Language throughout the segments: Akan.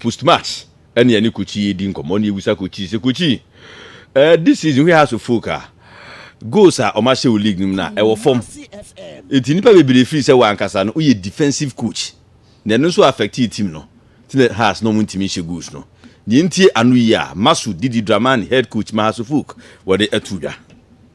Postmax ne yɛne Kochi redi nkɔmmɔ na yebisa Kochi sɛ, Kochi, eh, this season where has your folk are? Goals a wɔahyɛ wɔ league no mu no, ɛwɔ fam. Enti nnipa bebree firi sɛ w'ankasa no woyɛ defensive coach na ɛno nso affectee team no nti na Hearts no wɔntumi nhyɛ goals no. Nea enti ano yi a Masud Didi Dramani, head coach ma Hearts of Oak, wɔde ato dwa.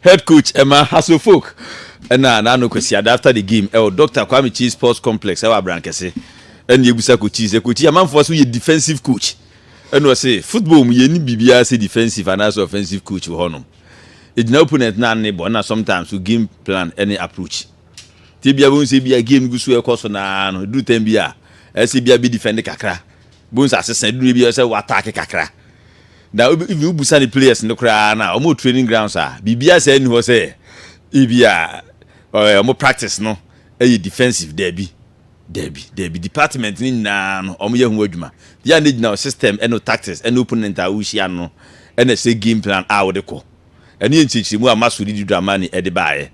Head coach ɛma Hasso Folk ɛna n'ano Kwasiada after the game ɛwɔ Doctor Kwame Kyei Sports Complex ɛwɔ Abrankɛse ɛna ebusa Coach Kyei sɛ Coach Kyei amanfoɔ so yɛ defensive coach ɛna ɔse football mu yɛnni biribiara sɛ defensive anaasɛ offensive coach wɔ hɔnom egyina opponent no ano bɔ ɛna sometimes so game plan ɛne approach nti ebia bɛhu sɛ ebia game gu so ɛkɔ so naa no eduru time bi a ɛsɛ ebia bɛ defend kakra Bohu sɛ asesa edu no bi ɔsɛ wo attack kakra. Na wo even wo busa ne players no koraa na wɔn training grounds a biribiara saa nni hɔ sɛ ebi a ɔyɛ wɔn practice no ɛyɛ defensive daabi. Daabi, daabi department no nyinaa no wɔn yɛ ho adwuma. Yɛ a na gyina wo system ɛne tactics ɛne opponent a wohyia no no ɛna ɛsɛ game plan a wode kɔ. Ɛne yɛ nkyerɛkyerɛmu a Masudi Dramani ɛde baeɛ.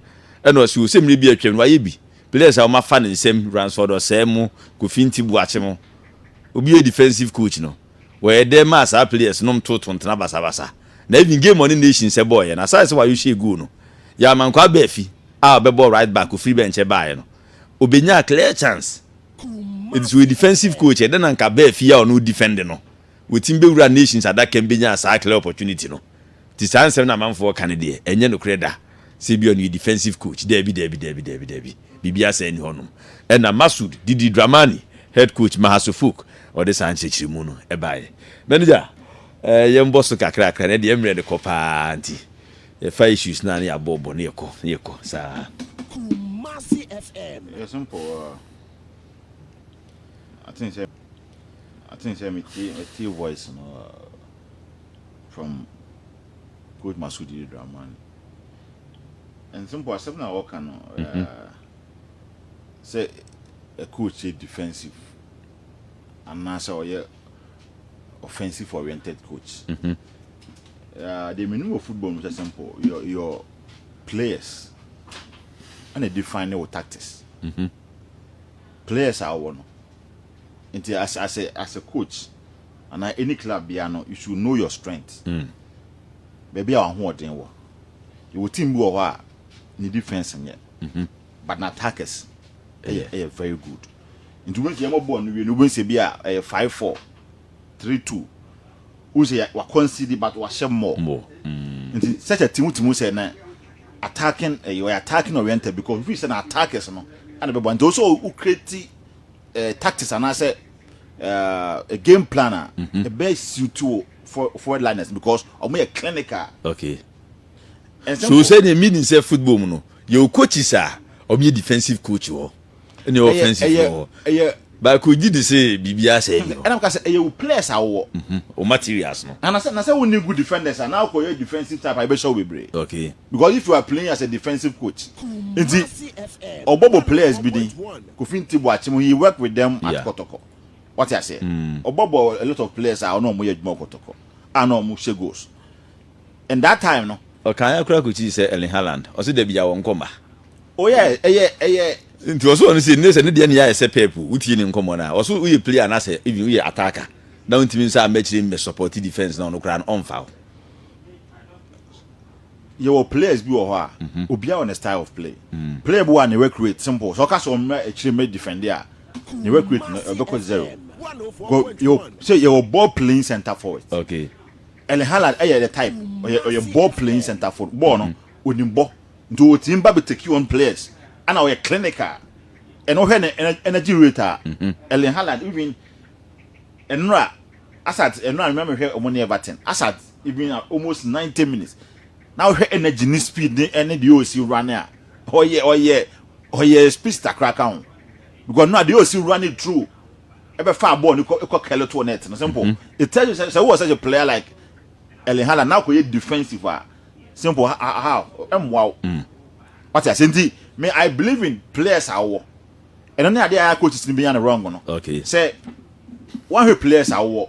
Ɛna ɔsɛ o sɛ mmerɛ bi atwam no wayɛ bi. Players a wɔafa ne nsam, Ransford Orsay mu, Kofi Nti Boakye mu. Obi yɛ defensive coach no, wɔyɛ dɛ maa saa players nom too tontena basabasa. Na even game ɔne Nations bɔɔeɛ no, aside sɛ wayohyɛɛ goal no, Yaaman Kwabbe Afi a ɔbɛbɔɔ right back ɔfiri bɛnkyɛ baaeɛ no, ɔbɛnyaa clear chance. Enti sɛ ɔyɛ defensive coach a, ɛdɛ na nka Ba Afi a ɔne wo defend no, watumi bɛwuraa Nations adakam bɛnyaa saa clear opportunity no. Nti saa nsɛm no a amanfoɔ ka no deɛ, ɛnyɛ nokorɛ da sɛ ebia ɔno yɛ defensive coach. Daabi, daabi, daabi, daabi, daabi. Biribiara saa nni hɔnom. Ɛnna Masoud, Didi Dramani, head coach ma Hassoufouck, ɔde saa nkyerɛkyerɛmu no baeɛ. Manager, eh, yɛmbɔ so kakrakra, ɛnnɛ deɛ mmerɛ no kɔ pa ara nti, yɛfa issues no a na yɛabɔbɔ na yɛkɔ, na yɛkɔ saa. Kumasi FM. Ɛyɛ simple aa. Ah. I think sɛ I think sɛ metie metie voice no aa. Ah. from Coach Masudi Dramani. And simple asɛm na wɔka no mm-hmm. eh, sɛ a coach yɛ defensive anaasɛ ɔyɛ offensive oriented coach. Mm -hmm. uh, the meaning of football is simple. Your, your players and they define your tactics. Mm -hmm. Players are one. Nti as as a as a coach anaa any club biara no you should know your strength. Baabi a w'ahoɔden wɔ. Yɛwɔ team bi wɔ hɔ a ne defence nyɛ but n'attackers ɛyɛ ɛyɛ very good. Nti wobɛhu sɛ yɛmmɔ bɔɔl no wie no wobɛhu sɛ bi a ɛyɛ five four three two wohu sɛ wa concede but wahyɛ more. Nti such a team wotumi hu sɛ na attacking ɛyɛ ɔyɛ attacking oriented because wofii sɛ na attackers no ɛna ɛbɛboa nti ɛwɔ sɛ wo create eh, tactics anaasɛ eh, game plan a ɛbɛ mhm. suit wo forward liners because ɔmo yɛ clinical. okay so sɛ ne mi ni sɛ football mu no yɛ o coaches a ɔmo yɛ defensive coach wɔ ɛna yɛ offensive wɔ ɛyɛ baako gyi di sɛ biribi asɛ yi ɛna ka sɛ ɛyɛ o players a wɔwɔ mhm. o materials no na sɛ na sɛ wo ni good defenders a na akɔ yɛ defensive type a ɛbɛhyɛ wo bebree okay because if you are playing as a defensive coach nti ɔbɔbɔ players bi din. Kofi nti boakye mu he work with them at kɔtɔkɔ wate aseɛ ɔbɔ bɔ a lot of players a ɔne ɔmo yɛ adwuma wɔ kɔtɔkɔ a na ɔmo hyɛ goals and that time no Ɔkaeɛ koraa kɔkyii sɛ Erling Haaland ɔse dabi yaw ɔnkɔ mma. Oh yeah ɛyɛ ɛyɛ. Nti ɔse ɔno sei sɛ ne deɛ neyɛ ayɛ sɛ Pep o wotie ne nkɔmmɔ no a ɔse woyɛ player anaasɛ even woyɛ attacker na wontimi nsan mma akyire mmɛ support defence na ɔno koraa no ɔmfa wo. Yɛwɔ players bi wɔ hɔ a, obiara wɔ ne style of play. Player bi wɔ a ne work rate simple, sɛ ɔka sɛ ɔmmra akyire mmɛ defend a, ne work rate no ɛbɛkɔ zero. Sɛ yɛwɔ ball playing centre forward. Erling Haaland ɛyɛ the type, ɔyɛ ɔyɛ ball playing centre forward, ball no onim bɔ, nti ɔtumi ba bɛ take on players, ɛna ɔyɛ clinical, ɛna wohwɛ ne energy rate a, Erling Haaland even ɛnora Asat ɛnora no mema mehwɛ wɔn ne Everton, Asat. Even at almost ninety minutes, na wohwɛ energy ne speed ne ɛne deɛ ɔsi run a ɔyɛ ɔyɛ ɔyɛ speedster koraa ka ho because no adeɛ ɔsi run it through ɛbɛfa bɔɔl no kɔ kɔ kɛlɛ to net no simple. Mm. It tells you sɛ sɛ wowɔ such a player like Erling Haaland na akɔyɛ defensive a simple ha ha ha ɛmmoa wo. Mm. Wate ase nti me I believe in players a wowɔ ɛno ne adeɛ a coaches no bɛnya no wrong no. Okay. Sɛ woahwɛ players a wowɔ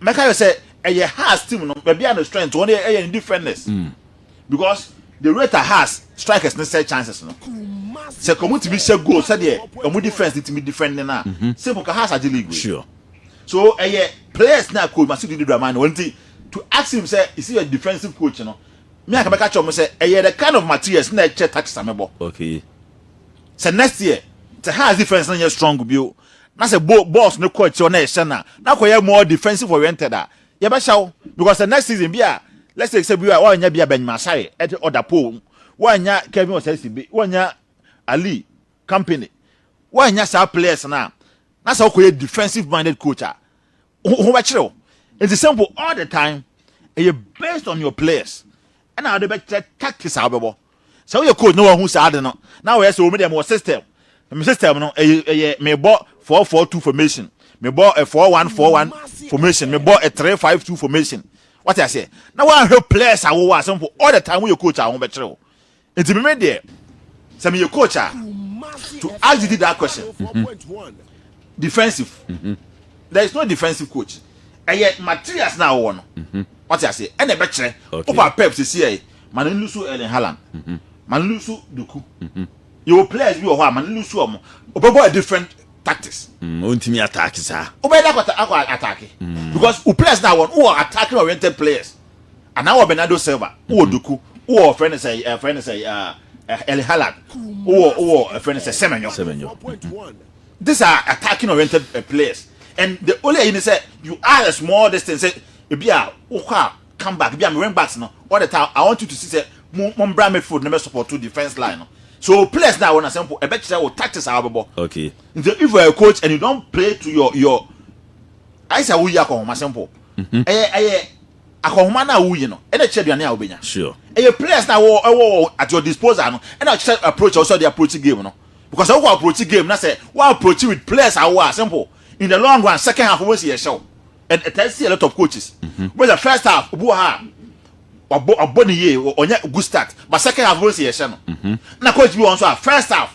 Mɛka yɛ sɛ ɛyɛ Haas team no baabi a ne strength wɔn yɛ ɛyɛ ne defenders because the rate a Haas strikers ne sɛ chances no sɛ kɔn mu tumi hyɛ goal sɛdeɛ wɔn defense ne tumi defend ne na simple ka Haas agye league wei so ɛyɛ players na coach Masudi di drama no wɔn ti to ask him sɛ is he a defensive coach no me anka mɛka kyerɛ wɔn sɛ ɛyɛ the kind of materials na ɛkyɛ tax amɛbɔ okay sɛ next year sɛ Haas defense no nyɛ strong bio. na sɛ bo boss no kɔ akyire na ɛhyɛ na na kɔ yɛ more defensive oriented a yɛbɛhyɛ wo because the next season bi a let's say sɛ bi a wɔanya bi a Benjamin Asare ɛte ɔda pole wɔanya Kevin Osasi bi wɔanya Ali company wɔanya saa players na na sɛ ɔkɔ yɛ defensive minded coach a ho ho bɛkyerɛ o nti simple all the time ɛyɛ based on your players ɛna ɔde bɛkyerɛ tactics a wobɛbɔ sɛ woyɛ coach na wahu saa ade no na wɔyɛ sɛ wɔn deɛ mewɔ system me system no ɛyɛ ɛyɛ mebɔ four four two formation mebɔ ɛ four one four one formation mebɔ ɛ three five two formation wate aseɛ na wɔahwɛ players a wɔwɔ a simple all the time woyɛ coach a wɔn bɛkyerɛ o Enti me me deɛ sɛ meyɛ coach a to ask Didi that question mm-hmm. defensive mm-hmm. there is no defensive coach ɛyɛ materials na awɔ no mm-hmm. wate aseɛ ɛna ɛbɛkyerɛ wopa pep sisi ɛyɛ ma no lusu Erling Haaland ma no lusu Doku yɛwɔ players bi wɔ hɔ a ma no lusu ɔmo ɔbɛbɔ a different tactics. Mm, o ntumi attack saa. o bɛ da akɔ attack. Mm. because o players na wɔn o wɔ attacking oriented players. Anaa wɔ Bernardo Silva, wowɔ Doku, wowɔ ɔfrɛ no sɛ ɛfrɛ no sɛ El Halad, wowɔ wowɔ ɛfrɛ no sɛ Semenyo. Semenyo. These are attacking oriented uh, players and the only ayi ni sɛ you are a small distance sɛ ebi a wokɔ a come back ebi a wing backs no all the time I want you to see sɛ mo mo mbra midfield na mɛ support to defence line no so players na wɔn asɛm po ɛbɛ kyerɛ wo tactics a wɔbɛbɔ. Okay. Nti if you are a coach and you don play to your your ayisa wo yi akɔ homa simple. Ɛyɛ ɛyɛ Akɔnhoma no a woyi no na ɛkyerɛ aduane a wobɛnya. Sure. Ɛyɛ players no a wɔ ɛwɔ wɔ at your disposal no na ɛkyerɛ approach a wɔsɛ wɔde approach game no. Because sɛ wokɔ approach game na sɛ wo approach with players a wowɔ a simple. In the long run second half wobɛhu sɛ yɛhyɛ wo. And ɛtaa si a lot of coaches. Wobɛhu sɛ first half obi wɔ ha a wabɔ wabɔ ne yie ɔnya good start but second half wobɛhu sɛ yɛhyɛ no. Na coach bi wɔ hɔ nso a first half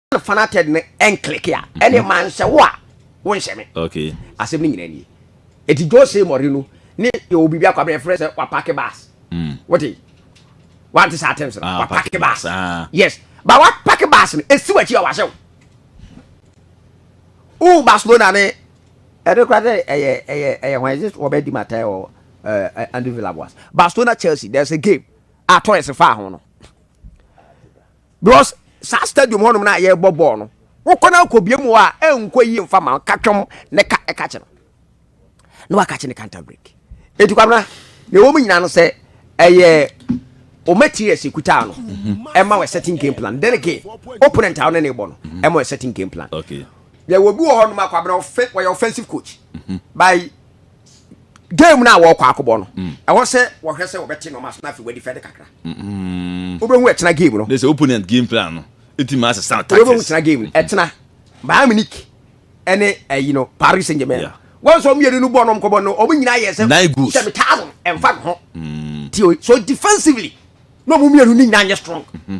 na fanated no ɛnkleke a ɛne mhm. manhyɛ wo a wonhyɛ me asɛm no nyina nie ɛti jose mɔre no ne yɛwɔ biribi akɔ abɛyɛ frɛ sɛ wapake bas mm. wote wante saa terms no ah, wapake bas ah. yes ba wapake bas no ɛsi wakyi a wahyɛ wo wo barcelona ne ɛde kora sɛ ɛyɛ ɛyɛ ɛyɛ hwan ɛsɛ wɔbɛdi matɛ wɔ ɛɛ andrew villa boas barcelona chelsea there's a game a torres fa ho no because saa stadium hɔnom no a yɛrebɔ bɔɔl no wokɔ no akɔbie mu hɔ a ɛnkɔ yie mfa ma ka twam ne ka ɛka kye no na waka kye ne counter break ɛti kwabena na ɛwɔ mu nyina no sɛ ɛyɛ o materials ekuta no mhm. ɛma wɔ certain game plan then again opponent a ɔne ne bɔ no mhm. ɛma wɔ certain game plan yɛ wɔ bi wɔ hɔ nom akwabena ɔfɛ wɔyɛ offensive coach mhm. by game no a wɔkɔ akɔbɔ no mm. ɛwɔ sɛ wɔhwɛ sɛ wɔbɛte nɔɔma so na afei wɔadi fɛde kakra mm-hmm. wobɛhu ɛtena game no ne sɛ opponent game plan no ɛtumi ase sa tactics tena game no ɛtena Bayern Munich ɛne ɛyi no Paris Saint-Germain wɔn sɔ mmienu no bɔ nom kɔbɔ no wɔn nyinaa yɛ sɛ sɛ me taa no ɛmfa ho mm. ti o so defensively na wɔn mmienu ne nyinaa nyɛ strong mm-hmm.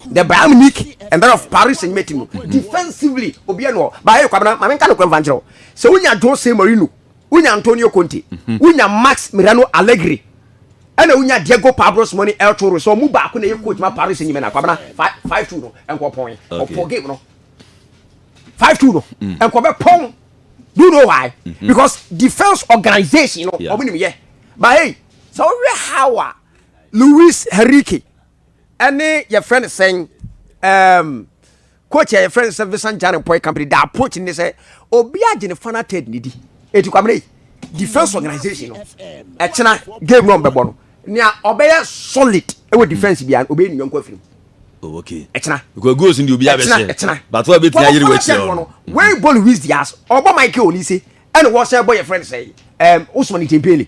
the Bayern Munich and that of Paris Saint Germain no mm-hmm. defensively obi ɛna ɔ ba ɛyɛ kwabena maame nka no kura nfa nkyerɛw sɛ wonya Jose Mourinho wonya Antonio Conte mm-hmm. wonya Max Mirano Allegri ɛna wonya Diego Pablo Simeone El Toro so ɔmo baako na ɛyɛ coach ma Paris Saint Germain na kwabena five two no ɛnkɔ pɔn ɔpɔ game no five two no mm. ɛnkɔ bɛ pɔn do you know why mm-hmm. because defence organisation no ɔmo nim yɛ ba hey sɛ ɔwɛ how a Luis Henrique. ɛne yɛfrɛ no sɛn um, coach a yɛfrɛ no sɛ vincent jane poi company the approach ne sɛ obi agye ne fana ted ne di ɛti kwamene defense organization no ɛkyena game no ɔmbɛbɔ no nea ɔbɛyɛ solid ɛwɔ defense bia ɔbɛyɛ ne yɔnko afiri oh, okay. ɛkyena because goals ndi obi abɛhyɛ ɛkyena but wa bɛtumi ayere wɔ akyerɛ hɔ no wei bɔ louis dias ɔbɔ michael olise ɛne wɔhyɛ bɔ yɛfrɛ no sɛ um, osman itempele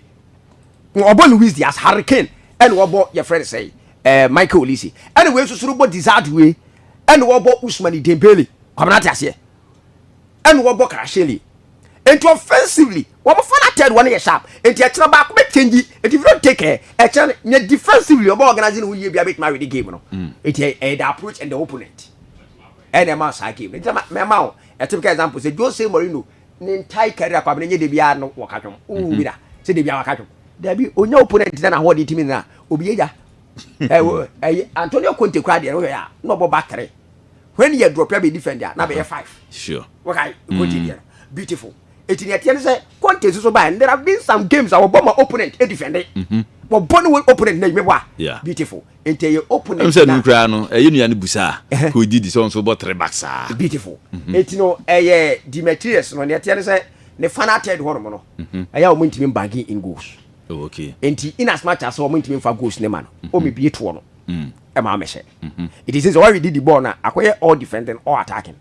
wɔbɔ Luis Diaz Harry Kane ɛna wɔbɔ yɛfrɛ no sɛ ɛɛ eh, Michael Olise ɛna wei soso bɔ Desiree wei ɛna wɔbɔ Ousmane Dembele kwamina ate aseɛ ɛna wɔbɔ Karahyɛli nti offensively wɔn fa na third wɔn yɛ sharp nti ɛkyerɛ baako bɛ change nti if you don't take care ɛkyerɛ nyɛ defensively wɔbɛ organize ne ho yie bi a bɛtuma awɛ de game no mm. nti ɛyɛ eh, eh, the approach and the opponent ɛna ɛma saa game nti mɛma o ɛtɛm ka example sɛ Jose Mourinho ne ntae kari akɔ abena nye debia no wɔka dwom wo mhm. wira sɛ debia waka dwom dabi onya opponent na nahoɔden timi no a obi yɛya ɛyɛ antonio conte kora deɛ wohwɛ a na ɔbɔ ba tere when yɛ drop abɛ defend a na bɛyɛ five sure wɔkae conte mm. deɛ no beautiful ɛti ne ɛteɛ no sɛ conte nso so baɛ there have been some games a wɔbɔ ma opponent defende wɔbɔ ne opponent na adwuma bɔ a beautiful sɛ no koraa no ɛyɛ nua no busa a kò didi sɛ ɔnso bɔ three bucks saa. beautiful mhm. eti no ɛyɛ Demetrius no nea ɛteɛ no sɛ ne fa na atɛ de hɔ nom no mhm. ɛyɛ a wɔn ntumi banking in goals oh, nti in as much as wɔn ntumi nfa goals ne ma no mhm. wɔn ebie toɔ no ɛma wɔn hyɛ eti sɛ sɛ wɔn didi bɔɔl na akɔyɛ all defending all attacking.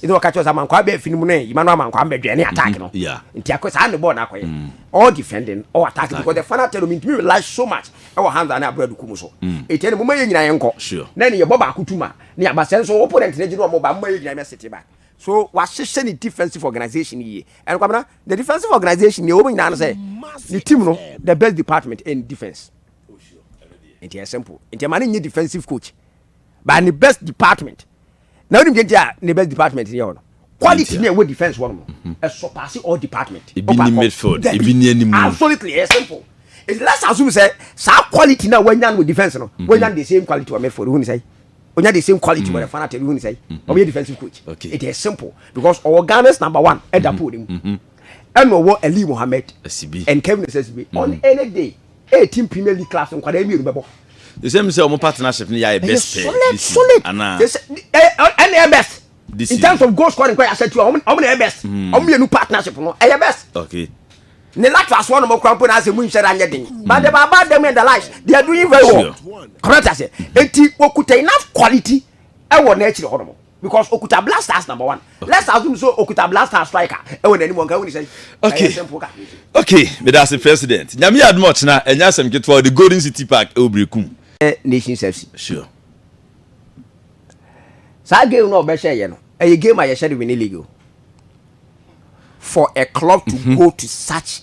ɛna ɔka kyerɛ sɛ amankwaa bɛɛ fi no mu no yima no amankwaa mbɛdwɛn ne attack mm-hmm. no yeah. nti akɔ saa ne bɔɔl no akɔyɛ mm. all defending all attack because the final tell me ntumi rely so much ɛwɔ Hamza ne Abura Duku mu so ɛtɛ ne moma yɛ nyina yɛnkɔ na ɛne yɛbɔ baako tuma ne aba sɛ nso opponent ne gye ne ɔmo ba moma yɛ nyina yɛ sete back so wahyehyɛ ne defensive organization yie ɛno kwamina the defensive organization yɛ wɔn nyinaa no sɛ ne team no the best department in defense oh, nti yɛ simple nti ɛma ne nye defensive coach by ne best department na wonim deɛ nti a ne best department yɛ hɔ no quality ne ɛwɔ defense hɔ nom mhm. ɛsɔ paase all department ebi ni midfield ebi ni anim absolutely ɛyɛ simple it's less assume sɛ saa quality na wanya no defense no mhm. wanya the same quality wɔ midfield wohun sɛ onya the same quality wɔ ɛfana tɛbi wohun sɛ ɔbɛyɛ defensive coach it is simple because ɔwɔ Ghana's number one ɛda mhm. pool ne mu ɛna ɔwɔ Ali Mohammed and Kevin Osesibi on any day. Ɛyɛ team premier league clubs nkwadaa mmienu bɛbɔ. ɛsɛ mi sɛ ɔmo partnership no yɛ ayɛ best pɛɛ solid solid anaa ɛna ɛyɛ best in terms of goal scoring kɔ yɛ asɛtu a ɔmo na ɛyɛ best hmm. ɔmo mmienu partnership no ɛyɛ best. okay ne latress wɔn mo kura mpo na ase mu nhyɛra nyɛ den hmm. but the baba dem and the lives they are doing very well correct ase eti okuta enough quality ɛwɔ n'akyiri hɔ nom. because okuta black stars number one let's assume so okuta black stars striker ɛwɔ n'anim wɔn kan wɔn ni sɛ ɛyɛ simple ka. okay medase president nyame yɛ adum ɔkyena ɛnyɛ asɛm ketewa ɔde golden city park ɛwɔ berekum. ɛ nations fc. sure. saa game no ɔbɛhyɛ yɛ no ɛyɛ game a yɛhyɛ de winning league o for a club to mm -hmm. go to such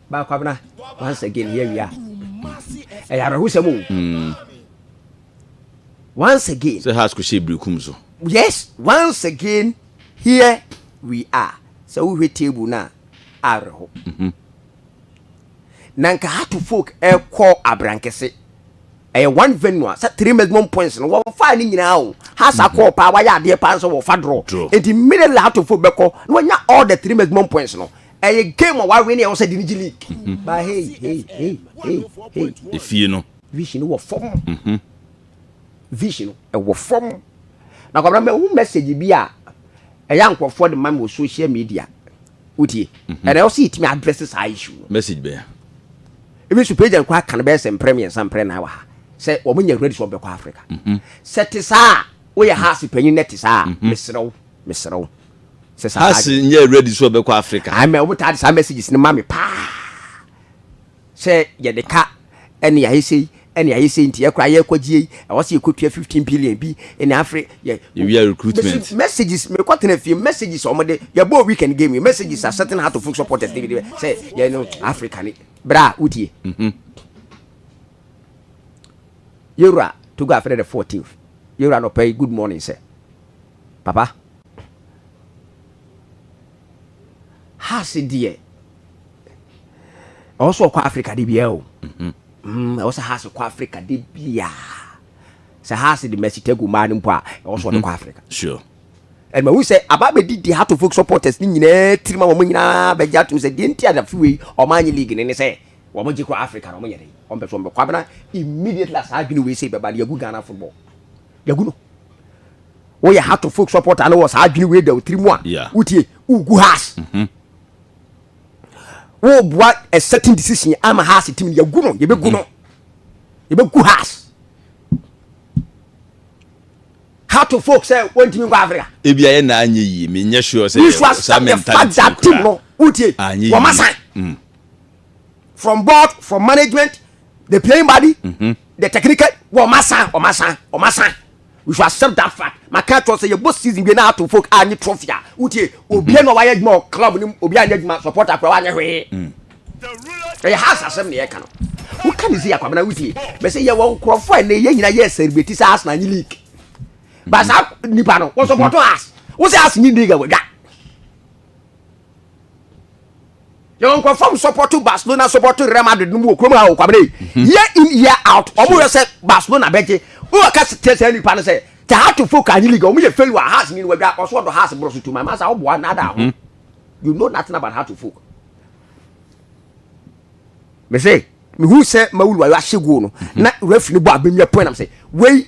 ba kwabena once again yɛ wia ɛyɛ awerɛhosɛm o hmm. once again sɛ has kò hyɛ birikum so yes once again here we are sɛ wohwɛ table no a awerɛho mhm. na nka hato folk ɛkɔ abrankɛse ɛyɛ one venue a sɛ three maximum points no wɔfa ne nyinaa o hasa mhm. kɔɔ paa wayɛ adeɛ paa nso wɔfa dorɔ nti mmiri lahato folk bɛkɔ na wɔnya all the three maximum points no ɛyɛ game a wawe ne ɛwɔ sɛ de ne gye league mhm. ba hei hei hei hei hei efie no vision wɔ fam mhm. vision ɛwɔ fam na kwabena mɛhu message bi a ɛyɛ nkurɔfoɔ de ma mi wɔ social media wotie mhm. ɛna ɛwɔ sɛ yɛtumi address saa issue no message bɛn ebi so page nkɔ aka no bɛyɛ sɛ mprɛ mmiɛnsa mprɛ na wɔ ha sɛ wɔn nyɛ ready sɛ wɔbɛkɔ africa sɛ te saa woyɛ ha ase panyin na te saa mesrɛ wo mesrɛ wo sɛ saa Has adwene. nyɛ ready sɛ ɔbɛkɔ Africa. Ae mɛ ɔmo taa de saa messages no ma me paa sɛ yɛde ka ɛne yɛayɛ sei ɛne yɛayɛ sei nti yɛ koraa yɛ kɔ gyeei ɛwɔ sɛ yɛkɔ tua fifteen billion bi ɛne afre yɛ Yɛwia mesi recruitment. messages me kɔ tena fie messages a ɔmo de yɛ bɔɔ weekend game yi messages a certain heart of folk supporters de de sɛ yɛ no Africa ne bra wotie yɛwura Togo afɛnɛ the fourteenth yɛwura nɔpɛ yi good morning sɛ Papa, ha se deɛ ɛwɔ sɛ ɔkɔ Africa de biara o. Mm, ɛwɔ sɛ ha se kɔ Africa de biara. Sɛ ha se de Mercy Tegu maa no mpo a, ɛwɔ sɛ ɔde kɔ Africa. Sure. ɛnma hu sɛ aba bɛdi deɛ Heart of Oak supporters ne nyinaa tirim a wɔn nyinaa bɛgye atom sɛ deɛ nti a dafe wei wɔn anye league ne ne sɛ wɔn gye kɔ Africa na wɔn yɛ dɛ wɔn pɛ so wɔn bɛkɔ abena immediately a saa adwene wei sɛ bɛba de agu Ghana football yɛgu no woyɛ heart of folk support a na wɔ saa adwene wei da wo tiri mu a wotie wogu has mhm. woboa a certain decision ama has tim yɛgu no yɛbɛgu no mhm. yɛbɛgu has heart of folk sɛ wɔntumi nkɔ africa ebi ayɛ na anyɛ yie menyɛ sure sɛ saa mentality kora no wotie wɔma san mm. from board from management the playing body mm -hmm. the technical wɔ ɔma san ɔma san ɔma san we should accept that fact maka akyerɛ sɛ yɛbɔ season wie na ato folk a nye trophy a wotie obia na wayɛ adwuma wɔ club no obia nyɛ adwuma support akora wanyɛ hwee ɛyɛ has asɛm ne yɛka no woka ne sɛ yɛakwabena wotie bɛsɛ yɛwɔ nkurɔfoɔ a ɛnɛ yɛ nyina yɛ celebrity sɛ asena nye league ba saa nipa no wɔsupporto has wo sɛ has nye league a wadwa yɛwɔ nkurɔfam sɔpɔto barcelona sɔpɔto real madrid no mu wɔ kurom ha o kwamina yi mhm. year in year out wɔn yɛ sɛ barcelona bɛgye wowɔ ka kyerɛ sɛ nipa no sɛ tahatofo ka anyi liga wɔn yɛ failure house ni wadwa ɔso ɔdɔ house borɔ so tuma masa ɔboa nada ho mhm. you know nothing about tahatofo mese mehu sɛ mawulu ayɔ ahyɛ goal no mhm. na referee no bɔ abɛnwia point nam sɛ wei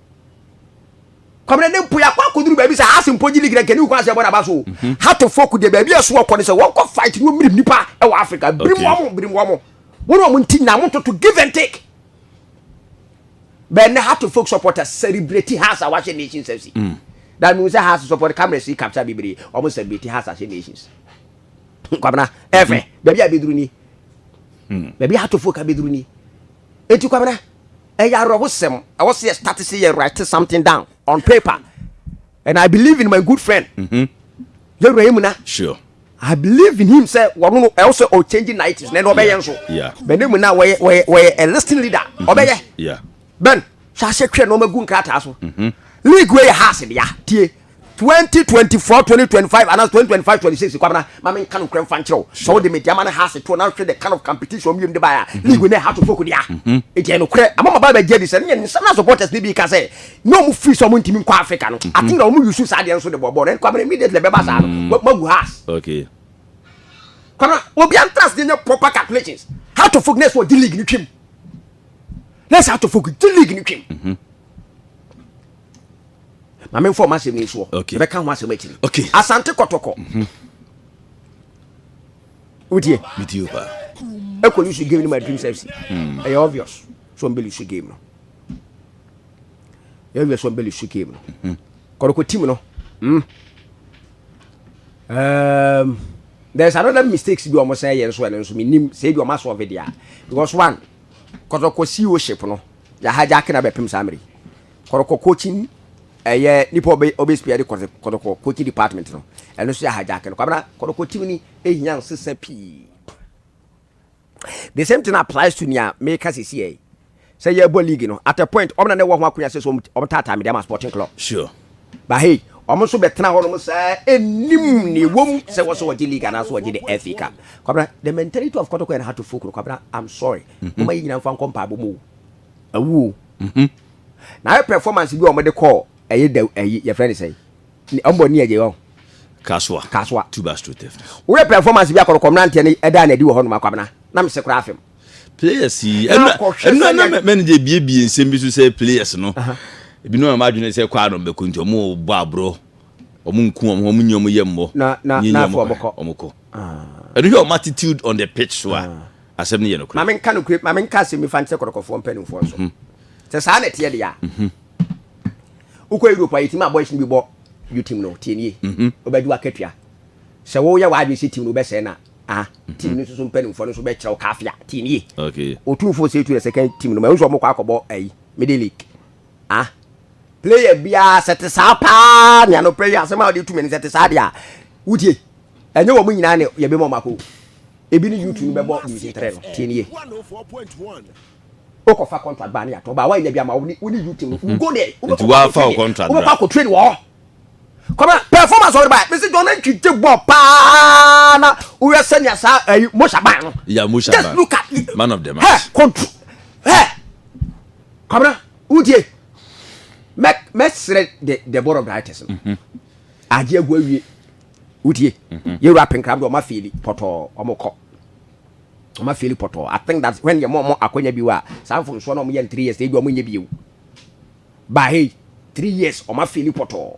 kɔmina ne mpo yɛakɔ akɔduru baabi sɛ ase mpo gye ligira nkani wokɔ ase ɛbɔ naba so o mhm. hatofo ko deɛ baabi ɛso wɔkɔ no sɛ wɔnkɔ fight ne wɔmmirim nnipa ɛwɔ africa birim wɔ mo birim wɔ mo wɔne ɔmo nti nyina mototo give and take bɛn ne hatofo supporters celebrate has a wahyɛ nations fc mm. that means sɛ has support cameras yi capture bebree ɔmo celebrate has ahyɛ nations kwabena ɛfɛ mm-hmm. baabi a bɛduru ni mm. baabi hatofo ka bɛduru ni eti kwabena Ɛyɛ awerɛhosɛm. Ɛwɔ sɛ yɛ start sɛ yɛ write something down on paper and I believe in my good friend. Mm-hmm. Yɛ wura mu na. Sure. I believe in him sɛ wɔn no ɛwɔ sɛ ɔ change narratives na ɛna ɔbɛyɛ nso. Yeah. Bɛn ne mu na wɔyɛ wɔyɛ wɔyɛ a listing leader mm-hmm. ɔbɛyɛ. Yeah. Bɛn hwɛ ahyɛ twɛ na ɔmɛ gu nkrataa so. Mm-hmm. League wei yɛ house dea tie. twenty twenty four twenty twenty five and twenty twenty five twenty six kwabena maame nka no nkura nfa nkyerɛ o sɛ ɔde media ma no ha ase to na nhwɛ the kind of competition ɔmo yɛ mu de ba ya mm-hmm. league ne ha to so kodi a egyɛ no korɛ ama ma ba bɛ gye di sɛ ne yɛ nsɛm na supporters ne bi ka sɛ ne ɔmo firi sɛ ɔmo ntumi nkɔ africa no mm-hmm. ati na ɔmo yusu saa deɛ nso de bɔ bɔɔl ne kwabena immediately bɛba saa no mm-hmm. magu has kwabena obi antrans de nyɛ proper calculations how to focus ne sɛ ɔgye league ne twim ne sɛ how to focus gye league ne twim. maame nfa ɔmo asɛm yi soɔ ɛbɛ ka ho asɛm akyiri okay. asante kɔtɔkɔ mhm. wotie metie paa ɛkɔ lose game no ma dream service hmm. ɛyɛ obvious so ɔmbɛ lose game no ɛyɛ obvious so ɔmbɛ lose game no mhm. kɔrɔkɔ team no hmm. um, there's another mistakes bi ɔmo sɛ yɛ nso ɛno nso menim sɛ ebi ɔmo asɔɔve deɛ because one kɔtɔkɔ ceo ship no yɛ hijack na bɛpem saa mmere Kɔtɔkɔ coaching ɛyɛ eh, nipa ɔbɛ ɔbɛ spia de kɔtɔ kɔtɔkɔ coaching department no ɛno so yɛ hijack no kwabena kɔtɔkɔ team ni ehia nsesa pii the same thing applies to nea meka sisi yɛ sɛ yɛ bɔ league no at a point ɔmo na ne wɔ ho akonya sɛ so ɔmo taataa mi de ama sporting club sure but hey ɔmo nso bɛtena hɔ nom saa enim ne wɔm sɛ wɔsɔ wɔgye league anaasɛ wɔgye de FA Cup kwabena the mentality of kɔtɔkɔ and how to folk no kwabena I'm sorry mm-hmm. ɔmo ayi nyina nfa nkɔ mpaabɔ mu o. Awu o. Mhm. Na ayɛ performance bi a wɔde kɔɔ ɛyɛ da ɛyi yɛfrɛ ne sɛn? Ne ɔmbɔ ni ɛgye hɔ. Kasoa. Kasoa. Two bus to theft. Woyɛ performance bi a kɔrɔkɔ mmeranteɛ no ɛdaa n'adi wɔ hɔ nom akwabena na mese koraa afem. Players yi ɛnna ɛnna na manager ebiebie nsɛm bi so sɛ players no ebinom a m'adwene sɛ kɔ anom bɛkɔ nti wɔn bɔ aborɔ wɔn nku wɔn ho wɔn nyi wɔn yɛ mmɔ na na na afɔ wɔn kɔ wɔn kɔ ɛno hwɛ wɔn attitude on the pitch so a Asɛm no yɛ nokorɛ. Ma menka nokorɛ, ma menka asɛm bi fa nkyerɛ kɔtɔkɔfoɔ mpanimfoɔ nso. Sɛ saa na ɛteɛ deɛ a, wokɔ Europe a, yɛtumi ma boys no bi bɔ you team no, tie nie, wobɛgye w'akatua. Sɛ woyɛ w'adwene sɛ team no wobɛsɛe no a, team no nso so mpanimfoɔ no nso bɛkyerɛ wo kaafea, tie nie. Otumfoɔ Setu na second team no, mahu sɛ wɔkɔ akɔbɔ ayi, Middle League. Ah player biara sɛ te saa paa nea no prayer asɛm a wɔde tu mene sɛ te saa deɛ a wotie ɛnyɛ wɔn nyinaa ne yɛbɛma wɔn akɔ ebi ne youtube no bɛbɔ division three no tie nie wokɔfa contract baa ne yɛatɔ baa woanya bi ama wo ne youtube no mhm. go there nti woafa wo contract bra wobɛkɔ akɔ train wɔ hɔ kɔmɛ performance ɔde ba yɛ mesi jɔn ne ntwi te bɔ paa na woyɛ sɛnea saa ɛyi eh, mosha ban no yeah mosha ban just look at man of the match hey control hey Kwabena, wotie? Mɛ mɛsrɛ de Deborah Brightes no. Mhm. Agye agu awie. Wotie? Mhm. Yɛwura apenkram de ɔma feeli pɔtɔɔ ɔmo kɔ. Ɔma feeli pɔtɔɔ. I think that when yɛ mo ɔmo akwanya bi wɔ a, saa mfomsoɔ na ɔmo yɛ in three years na ebi ɔmo nyɛ bio. Ba hei, three years ɔma feeli pɔtɔɔ.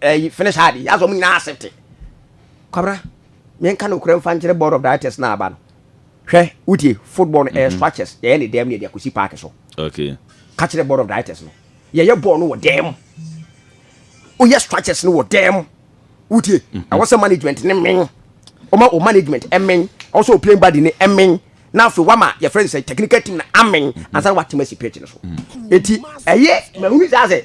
ɛyi eh, finish hard yasɔ ɔmo nyinaa accept kwabra yɛn ka no kura nfa nkyerɛ board of directors na aba no hwɛ wotie football no ɛyɛ eh, mhm. structures yɛyɛ ne dɛm ne yɛde akosi park so okay ka kyerɛ board of directors no yɛyɛ ball no wɔ dɛm woyɛ structures no wɔ dɛm wotie mhm. ɛwɔ sɛ management ne men ɔma o management ɛmen ɔwɔ sɛ o playing body ne ɛmen na afei wama yɛfrɛ no sɛ technical team na amen ansa na watema si pitch no so enti ɛyɛ mahunu saa sɛ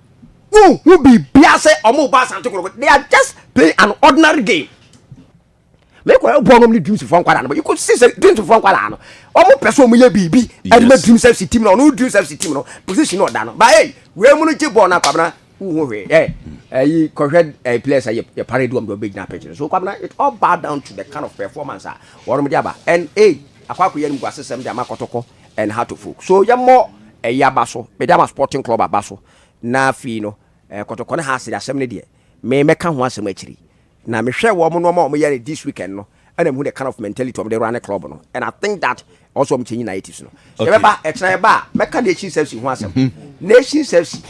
wonhu biribiara sɛ wɔn reba asante korɔkɔ they are just playing an ordinary game mekɔ ɛbɔ nom ne dreams fo nkwalaa no but you could see sɛ dreams fo nkwalaa no wɔn pɛ so wɔn yɛ biribi ɛde ma dreams fc team no ɔno dreams fc team no position na ɔda no but hey wei mu no gye bɔɔl na kwabena wohu hwee ɛ ɛyi kɔhwɛ ɛyi players a yɛ pare di wɔn de wɔn bɛ gyina pitch no so kwabena it all bow down to the kind of performance a wɔn de aba and hey akɔ akɔ yɛ no mu gua sesɛm de ama kɔtɔkɔ. and how to folk so yɛ mɔ ɛyɛ aba so mede ama sporting club aba so na afei no eh, kɔtɔkɔ ne haase de asɛm no deɛ me mɛka ho asɛm akyiri na mehwɛ wɔn nneɛma a wɔyɛ no this weekend no ɛna mehu the kind of mentality wɔn de run club no and I think that also wɔn change narratives no sɛ yɛbɛba ɛkyerɛ yɛba a mɛka nation service ho asɛm mm-hmm. nation service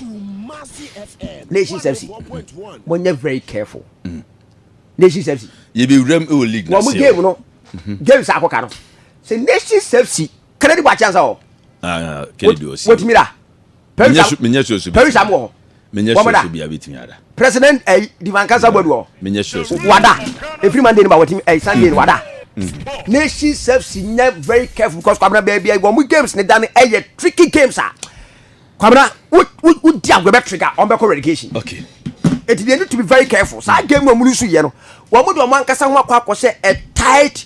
nation service wɔn nyɛ very careful mm. nation service yɛbɛwuram ɛwɔ league wɔn game no mm-hmm. games akɔka no sɛ nation fc kennedy bɔ akyɛnsa hɔ ah, kennedy ɔsi wotumi da menyɛ sure so paris am wɔ hɔ menyɛ sure so bia bɛtumi ada president ɛyi eh, divan kansa bɔdu hɔ menyɛ sure so wada ɛfiri monday no ba wɔtumi ɛyi eh, sunday no wada mm. nation fc nyɛ very careful because kwabena baabi a wɔn games ne da no ɛyɛ tricky games a kwabena wodi agorɔ bɛ trigger wɔn bɛkɔ relegation okay ɛti deɛ need to be very careful saa game a wɔn nso yɛ no wɔn de wɔn ankasa ho akɔ akɔ sɛ a tight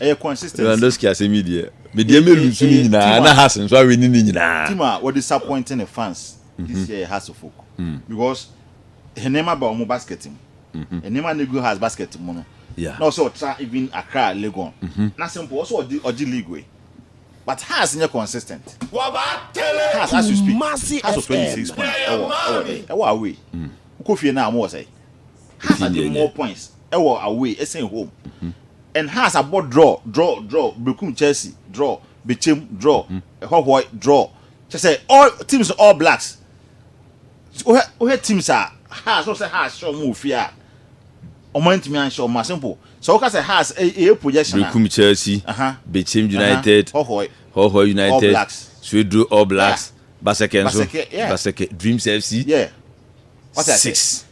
ɛyɛ consistency. Lewandowski asɛm yi deɛ, me deɛ mɛ lusu ne nyinaa na Haas nso awe ne ne nyinaa. Team a wɔ disappoint ne fans this year yɛ Haas folk because nneɛma ba wɔn basket mu, nneɛma na egu Haas basket mu no na ɔsɛ ɔtra even Accra Legon na simple ɔsɛ ɔgye ɔgye league wei but Haas nyɛ consistent. Haas as you speak Haas wɔ twenty six points ɛwɔ ɛwɔ de ɛwɔ away wokɔ fie na wɔn wɔ sɛ Haas agye more points. wɔ away ɛsen home and Hearts abɔ draw draw draw bekum Chelsea draw bekyɛm draw ɛhɔhoɔe draw kyɛ sɛ all teams All Blacks wohwɛ wohwɛ teams a Hearts wohwɛ sɛ Hearts hyɛ wɔn wɔ fie a wɔn antumi anhyɛ wɔn ma simple sɛ woka sɛ Hearts ɛyɛ projection a bekum Chelsea bekyɛm United hɔhoɔe hɔhoɔe United All Blacks Swedru All Blacks yeah. Basɛkɛ nso Basɛkɛ yeah. Basɛkɛ Dreams FC yeah. six.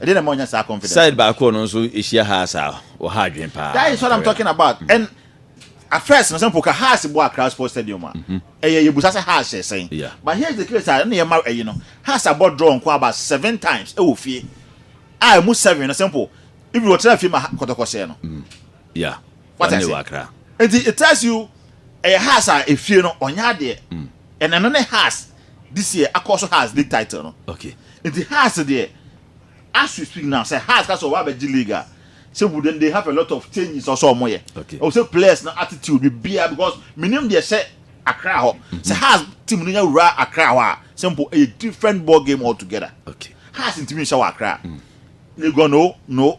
Ɛdeɛn na ɛma ɔnya saa confidence no? Side baako a ɔno nso hyia Haas a ɔha adwene paa. That is what I'm talking about. Mm. And at first, na sɛ mpo ka Haas bɔ Accra Sports Stadium a, mm-hmm. ɛyɛ yɛbusa sɛ Haas hyɛ sɛn. Yeah. But here's the case a ɛna yɛma ɛyi no, Haas abɔ draw nko about seven times ɛwɔ fie. A ɛmu seven no sɛ mpo, ibi wɔtena fie ma kɔtɔkɔ hyɛ no. Mm. Yeah. What I say? Nti it tells you ɛyɛ Haas a efie no ɔnya adeɛ. Mm. Ɛna ɛno ne Haas this year akɔ so Haas league title no. Okay. Nti Haas deɛ as we speak now sɛ Haas ka sɛ ɔwɔ abɛgye league a sɛ wouldn't they have a lot of changes ɔsɛ ɔmo yɛ. Okay. Ɔwɔ sɛ players na attitude biribiara because minim deɛ hyɛ Accra hɔ. Mm-hmm. Sɛ Haas team no nya wura Accra hɔ a sɛ mpo ɛyɛ different ball game altogether. Okay. Haas ntumi nhyɛ wɔ Accra. Mm. Legon no no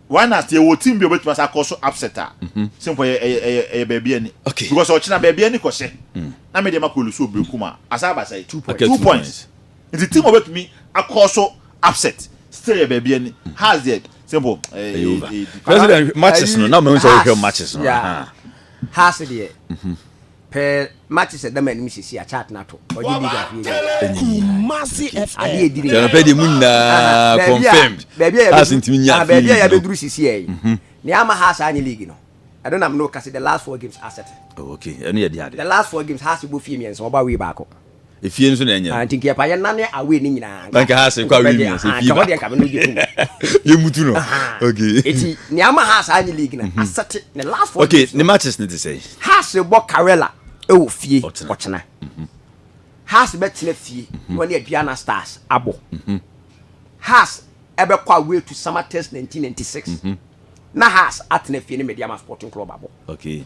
Why na sɛ yɛwɔ team bi a obetumi asa akɔ so upset a, sɛ mpo ɛyɛ ɛyɛ ɛyɛ ɛyɛ baabi ani. Okay. Because sɛ ɔkyena baabi ani kɔhyɛ, na me deɛ makɔ lusu wɔ Berekum a, asa aba sɛe. Two points. Two points. Nti team a obetumi akɔ so upset still yɛ baabi ani. Hearts deɛ sɛ mpo ɛyɛ Ɛyɛ over. ɛyɛ deep. President matches no, na mɛhu sɛ wohwɛ matches no. Yeah. Ahaa. Hearts deɛ, Pɛ mate sɛ dama anim sisi a chart na to. Ɔde bi ga fie gya. Kumasi FM. Ade edi ne. Kyɛnɛpɛ de mu nyinaa confirmed. Baabi a yɛbɛduru. Ntumi nya fie. Baabi a yɛbɛduru sisi yɛ yi. Ne ama ha saa nye league no. Ɛno nam no kasi the last four games asɛte. Oh okay. Ɛno yɛ di ade. The last four games ha si bɔ fie mmiɛnsa ɔbɔ away baako. Efie nso na ɛnyɛ no. Nti nkeɛpa yɛ nane away no nyinaa. Na nka house kɔ away mmiɛnsa efie baako. Nka hɔ deɛ nka bɛ no gye tom. Yɛ mutu no. Okay. Eti nea ama house anyi league na asɛte ne last four games. Okay ne matches ne te sɛ. House bɔ Karela ɛwɔ fie ɔkyena. House bɛ tena fie na ɔne Aduana Stars abɔ. House ɛbɛ kɔ away to Samatex nineteen ninety six na house atena fie ne Medeama Sporting Club abɔ. Okay.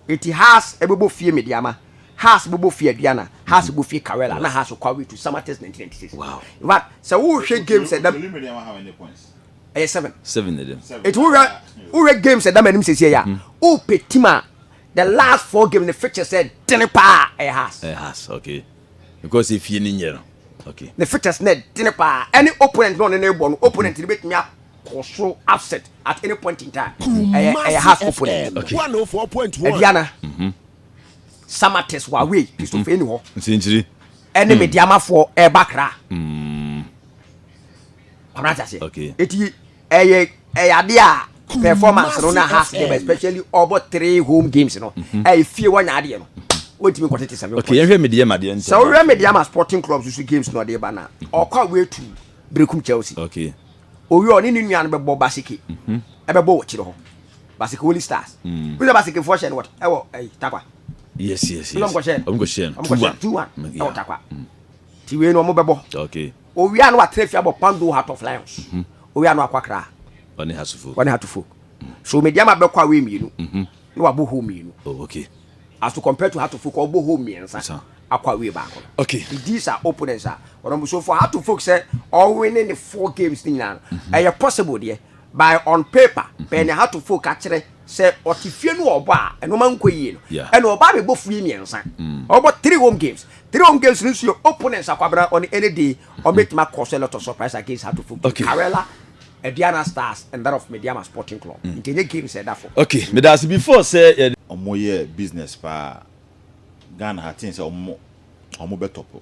Eti Haas bobɔ fie Mediama, Haas bobɔ fie Aduana, Haas bobɔ fie Kawela, na Haas kɔ away to Samatex nineteen ninety six. In fact, sɛ wohwɛ games ɛda ɛyɛ seven. Seven na ɛdam. Eti wohwɛ wohwɛ games ɛda m'anim sɛsi ɛyɛ a, wopɛ team a the last four games ne fixtures ɛdene paa ɛyɛ Haas. Ɛyɛ Haas, okay. because efie no nyɛ no okay ne fetus na ɛdene paa ɛne opponent na ɔne no rebɔ no opponent no bɛtumi akɔ soro upset at any point in time ɛyɛ ɛyɛ half opponent okay aduana mhm. samates wawei mhm. kristofei ni hɔ nsenkyiri ɛne hmm. mediamafoɔ ɛba kra mm. abrante aseɛ okay eti ɛyɛ ɛyɛ ade a performance no na ha ase dɛm especially ɔbɔ three home games no mhm. ɛyɛ fie wanya adeɛ no wɔntumi nkɔ tete sɛbi okay yɛhwɛ media ma deɛ ntɛm sɛ wohwɛ media ma sporting club susu games na ɔde ba na mhm. ɔkɔ a wɔatu berekum chelsea okay owie ɔne ne nua no bɛbɔ baseke mhm. ɛbɛbɔ wɔ kyerɛ hɔ baseke holy stars mm. wosɛ baseke foɔ hyɛ no wɔt ɛwɔ ɛyi takwa yes yes yes ɔmkɔhyɛ no ɔmkɔhyɛ no two one ɛwɔ takwa mm. ti wei no ɔmo bɛbɔ okay Owia no atrɛ fi abɔ Pando Heart of Lions, Owia no akɔ Accra, Ɔne Hatufo, Ɔne Hatufo, So Mediama bɛkɔ away mmienu na wabɔ home mmienu, Oh okay. As to compare to Hatufo kɔ ɔbɔ home mmiɛnsa Nsa. akɔ away baako no, Okay. He deals are opponents a ɔnam, So for Hatufolk sɛ ɔwene ne four games ne nyinaa no, ɛyɛ possible deɛ, By on paper, Bɛn na Hatofo ka kyerɛ sɛ ɔte fie no wɔ ɔbɔ a nneɛma nkɔ yie no? Ɛna ɔbaa bɛbɔ firi mmiɛnsa. Ɔbɔ three home games. Three home games no nso yɛ opponents a Kwabena ɔne any day ɔbɛtumi akɔ so a lot of surprise against Hatofo game. Karela, Aduana Stars and that of Medeama Sporting Club. Nti ɛnyɛ games a ɛda fam. Ok, meda ase. Before sɛ yɛde. Ɔmo yɛ business paa. Ghana ha, think sɛ ɔmo ɔmo bɛ tɔpo.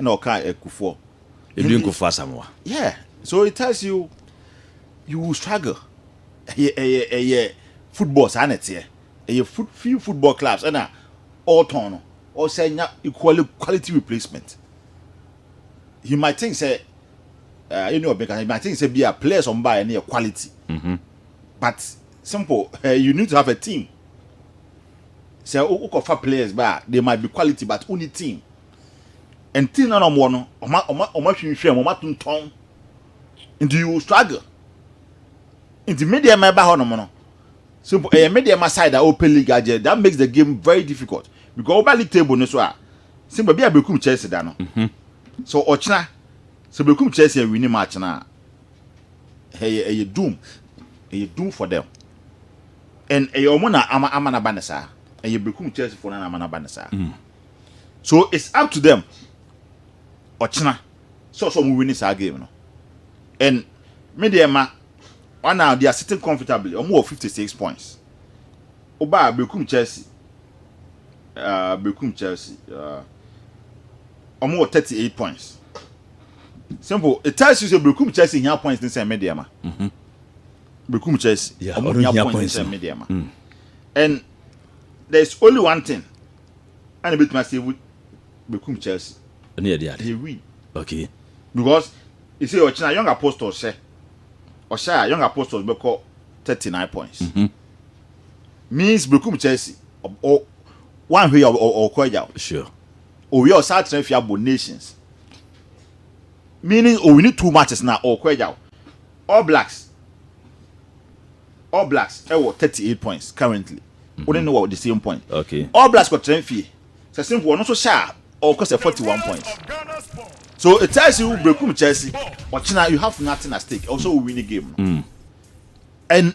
Ɛna ɔka akufoɔ. Edu nkufoɔ asamoa. Yeah, so it tells you you will struggle. Ɛyɛ ɛyɛ ɛyɛ football saa na ɛteɛ. Ɛyɛ foot few football clubs ɛna ɔretɔn no ɔsɛ nya equally quality replacement. He might think sɛ ɛɛ ɛni ɔbɛn kan he might think sɛ bi a players ɔmo baayɛ no yɛ quality. Mm-hmm. But simple, you need to have a team. sɛ wokɔfa players ba a they might be quality but wonni team and team na wɔwɔ no wɔma wɔma wɔma hwinhwɛn wɔma tontɔn nti you struggle nti me deɛ mɛba hɔ nom no simple ɛyɛ me deɛ ma side a open league agye that makes the game very difficult because wɔba league table no so a simple bi a bekum Chelsea da no mhm. so ɔkyena sɛ bekum Chelsea awini match na. Ɛyɛ ɛyɛ doom ɛyɛ doom for them and ɛyɛ wɔn na ama ama n'aba ne saa ɛyɛ bekum church fo na ama n'aba ne saa mm. so it's up to them ɔkyena sɛ ɔsɛ wɔn win saa game no and me deɛ ma wɔn na they are sitting comfortably wɔn wɔ fifty six points ɔbaa bekum Chelsea uh, bekum Chelsea uh, wɔn wɔ thirty eight points. Simple. It tells you say Brekum Chelsea hia points ne sɛ me deɛ ma. Mhm. Brekum Chelsea. Yeah, ɔmo hia points ne sɛ me deɛ ma. Mm. And there is only one thing. Ana betumi asave Brekum Chelsea. Ɛne yɛ de ade. They win. Okay. Because they say ɔkyena young apostles hyɛ. Ɔhyɛ a young apostles bɛkɔ 39 points. Mm -hmm. Means Brekum Chelsea. One way ɔkɔ agya. Sure. Owia ɔsan atena fie abɔ nations meaning owini two matches na ɔkɔ agyaw All Blacks All Blacks ɛwɔ thirty eight points currently wɔn mhm. ne wɔ the same point okay. All Blacks kɔ tena fie sɛ simple ɔno nso hyɛ a ɔkɔ sɛ forty one points so it tells you brekum Chelsea ɔkyena you have nothing at stake ɔsɛ owini game no. Mm. And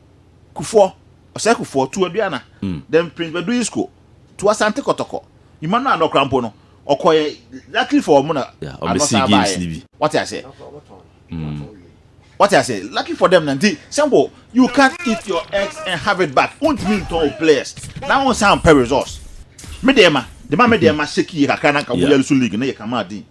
Kufoɔ, Ɔsɛe Kufoɔ, tu Aduana, then Prince Badu Isco, tu Asante Kɔtɔkɔ. Nyima no a na ɔkora mpo no, ɔkɔeɛ, luckily for wɔn na ano san baeɛ. Wate aseɛ? Wate aseɛ? Lucky for them na nti, simple, you can't eat your eggs and have it back. Wontumi ntɔn wo players na wonsan mpɛ results. Me deɛ ma, de ma me deɛ ma shake yie kakra na nka woyare so league no yɛ kama den.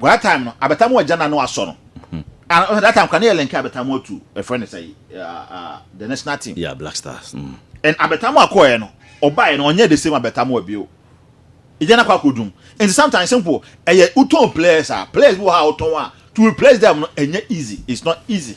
Wɔ that time no abɛta mu agya na no asɔ no and ɔhwɛ that time kora ne yɛ lɛnkɛ abɛta mu atu ɛfrɛ ne sɛ the national team yeah black stars mm. and abɛta mu akɔɛ no ɔbaɛ no ɔnyɛ the same abɛta mu abio ɛgya no akɔ akɔdum nti sometimes simple ɛyɛ wotɔn players a players bi wɔ ha a wotɔn a to replace them no ɛnyɛ easy it's not easy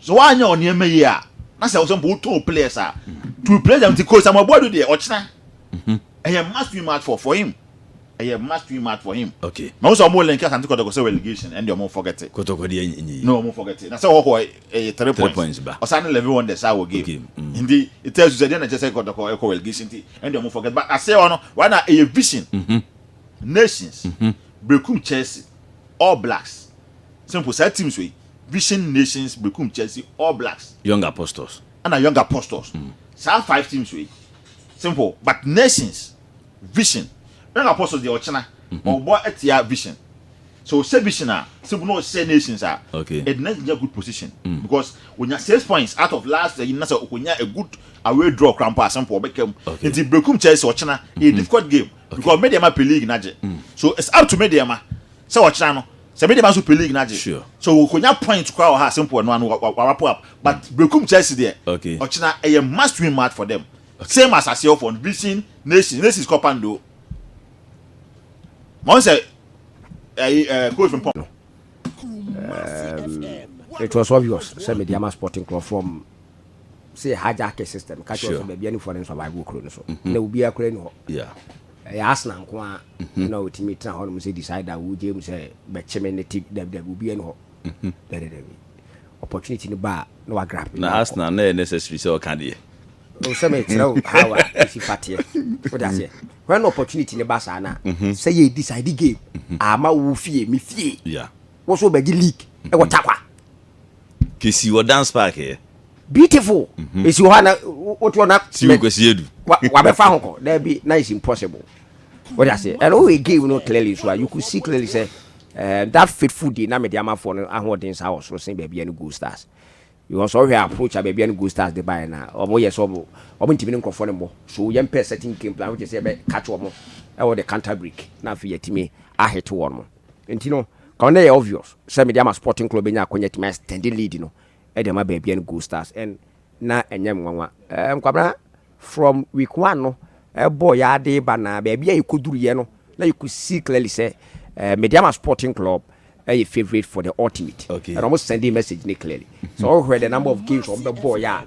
So woanyɛ wo nneɛma yie a, na sɛ wosɛ mpo woto wo players a, to replace them nti Coach Samuel Boadu deɛ ɔkyena mhm. ɛyɛ must win match for for him ɛyɛ must win match for him okay ma wo sɛ ɔmo link Asante Kɔtɔkɔ sɛ relegation ɛnde ɔmo forget Kɔtɔkɔ deɛ nyi na ɔmo forget na sɛ ɔhɔ ɛyɛ three points points ba ɔsan ne eleven wonders a wɔ game mm. nti ɛtɛ su sɛ deɛ na kyɛ sɛ Kɔtɔkɔ ɛkɔ relegation nti ɛnde ɔmo forget but asɛ ɔno right now ɛyɛ vision mhm. nations mhm. Brekum Chelsea All Blacks sɛ mpo saa teams wei Vision Nations bekum Chelsea, All Blacks. Young Apostles. Ɛna Young Apostles. Mm. Saa five teams wei. Simple. But Nations, Vision, Young Apostles deɛ ɔkyena. Mm -hmm. Ɔbɔ atia Vision. So ɔsɛ Vision a, simple na ɔsɛ Nations a. Okay. It not a good position. Mm. Because onya six points out of last year na sɛ okonya a good away draw krampa simple ɔbɛka mu. Okay. Nti bekum Chelsea ɔkyena. Mm -hmm. A difficult game. Okay. Because media ma pe league na gye. Mm. So it's up to media ma. Sɛ ɔkyena no. Sɛ me de ba so pɛ league no agye Sure. so okonya point koraa wɔ ha a simple ɛno ano wa wa wa wrap up but Berekum Chelsea deɛ Okay. ɔkyena ɛyɛ must win match for them same as Aseɛ foɔ no beating Nations Nations kɔ Pando ma wɔn sɛ ɛyi ɛɛ coach Frimpong it was obvious sɛ mede ama sporting nkurɔfoɔ m sɛ yɛ hijack system ka kyerɛ Sure. sɛ baabi anifoɔ no survive wɔ kuro no so na obiara kura ni hɔ Yeah. Ɛyɛ Arsenal nko ara na otumi tena hɔnom sɛ decider, wogyae mu sɛ bɛkye me nnɛ ti, dabi dabi, obiara nni hɔ. Dabi dabi. Opportunity no ba a, na wagrab no na wakɔ. Na Arsenal na ɛyɛ necessary sɛ ɔka deɛ. Oh, sɛ mekyerɛ wo how a esi fa teɛ. Wote aseɛ? When opportunity no ba saa no a, sɛ yɛ decide game, ama wo fie, me fie, wo nso wobɛgye league wɔ Tarkwa. Kesi wɔ dance park yɛ. Beautiful. Mhm. Esi wɔ hɔ a na wote hɔ na. Si wɔ Kwesi Adu. Wabɛfa ho kɔ. Daabi na it's impossible. Wode aseɛ. And wo yɛ game no clearly so a you could see clearly sɛ eh, that faithful day na mede amafoɔ no ahoɔden saa wɔ soro sen baabi a ne gold stars. Because ɔhwɛ approach a baabi a ne gold stars de baeɛ no a wɔn yɛ sɛ wɔn wɔn ntumi ne nkurɔfoɔ no mmɔ. So yɛmpɛ certain game plan which is sɛ yɛbɛ catch wɔn ɛwɔ the counter break na afei yɛatumi ahete wɔn. Enti no, kama no yɛ obvious sɛ mede ama Sporting Club bɛnya akwanya atumi a extend lead no de ama baabia no Gold Stars and na ɛnyɛ nwanwa. Nkwabena from week one no bɔɔ yɛ ara de ba na baabi a yɛkɔduruiɛ no na yɛkɔ see clearly sɛ mede ama Sporting Club ɛyɛ favourite for the ultimate okay. and wɔn sending message ne clearly so wɔhwɛ the number of games wɔn bɛbɔɔ yɛ a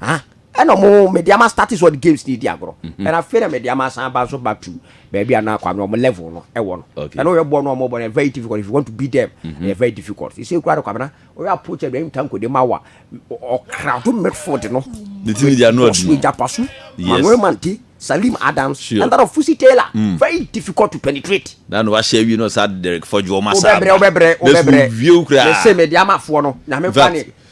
ah ɛna ɔmo mede ama start is what games ni di agorɔ ɛna mhm. afei na mede ama asan ba so back to baabi a na kwame ɔmo level no ɛwɔ no ɛna ɔyɛ bɔ no ɔmo bɔ no very difficult if you want to beat them ɛyɛ mhm. very difficult sisi ekura no kwame na ɔyɛ approach ɛbi ɛyɛ ntanko de ma wa ɔkra do midfield no ne ti ni di anu ɔdi no ijapasu manuel mante salim adams sure. and that of fusi taylor mm. very difficult to penetrate. na no wahyɛ awie no sa derek fɔjuo ma sa ma ɔbɛbrɛ ɔbɛbrɛ ɔbɛbrɛ ne se mɛ di ama foɔ no nyame fa ne.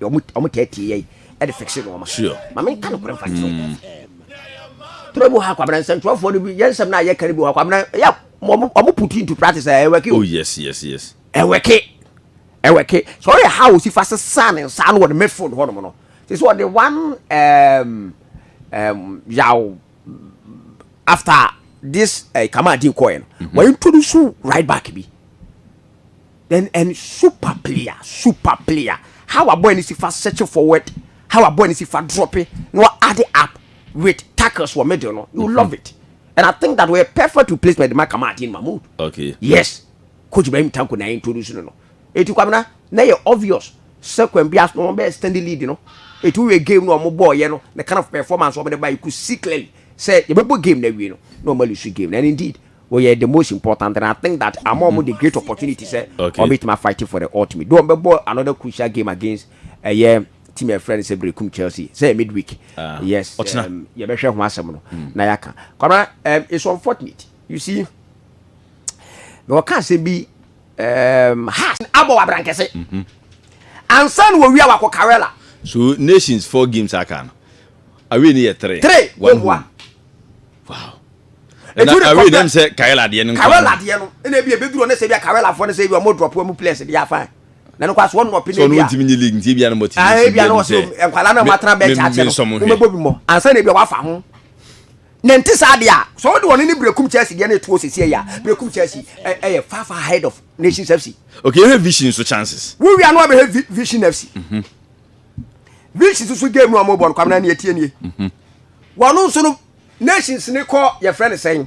Wɔn taa tie yɛn de fikse nneɛma. Ma menka nokorɛ mfa nkyerɛ wo. Toro bi wɔ hɔ a Kwabena nsɛmtwerɛfoɔ no bi yɛ nsɛm no a yɛka no bi wɔ hɔ a Kwabena yɛ wɔn put into practice a ɛwɛke o. Oh yes yes yes. Ɛwɛke ɛwɛke so ɔyɛ ha a wɔsi fa sesaa ne nsa ano wɔ ne mefon hɔnom no te sɛ ɔde one um, um, yaw after this uh, eh, kama adi kɔɛ no wɔintroduce right back bi Then en super player super player how a boy no si fa search forward how a boy no si fa drop na wa add up with tackles wɔ middle no you love it and I think that wɔyɛ perfect replacement de ma Kamal Adeyemi Mahmood okay yes coach Ibrahim Tanko na introduce no no eti kwamina na yɛ obvious sɛ kwan bi aso na wɔn bɛ extend lead no eti wɔyɛ game no wɔn bɔɔyɛ no the kind of performance wɔn de ba you could see clearly sɛ yɛbɛbɔ game na awie no na wɔn aluse game no and indeed wɔyɛ the most important and I think that ama wɔn the great opportunity sɛ wɔn bɛ tumi a fight for the ultimate do wɔn bɛ bɔ another crucial game against ɛyɛ eh, team a friend sɛ Berekum Chelsea sɛ yɛ midweek ah, yes um, yɛ bɛ hwɛ ho asɛm no hmm. na yɛ ka kwamina um, it's unfortunate you see na wɔka asɛm bi um, has abɔ wabrankɛse mm-hmm. ansa na wɔwia wakɔ Karela so nations four games aka no awei ne yɛ three three wɔn ho a wow ɛna awi dɛm sɛ kawɛla adeɛ no kawɛla adeɛ no ɛna ebi ebi duro ne sɛ ebi akawɛla afɔ ne sɛ ebi ɔmo drɔp ɔmo players de afa na ne kɔ aso ɔno ɔpɛ ne ebi a so ɔno ntumi nye league nti ebi anam ɔte ne ebi anam ɔte nkwalaa na ɔmo atena bɛn kyaakye no ɔmo bɛ bi mɔ ansa na ebi wafa ho na nti saa deɛ a so ɔde ɔne ne brekum chelsea deɛ na etuo sisi ɛyɛ a brekum chelsea ɛyɛ far far ahead of nations fc. okay ehe vision so chances. wúwia no abɛhɛ vision fc. Mm -hmm. greeks soso game no ɔmo bɔ no kwamina ni etie nie mhm. wɔn nso no nations ne kɔ yɛfrɛ ne sɛn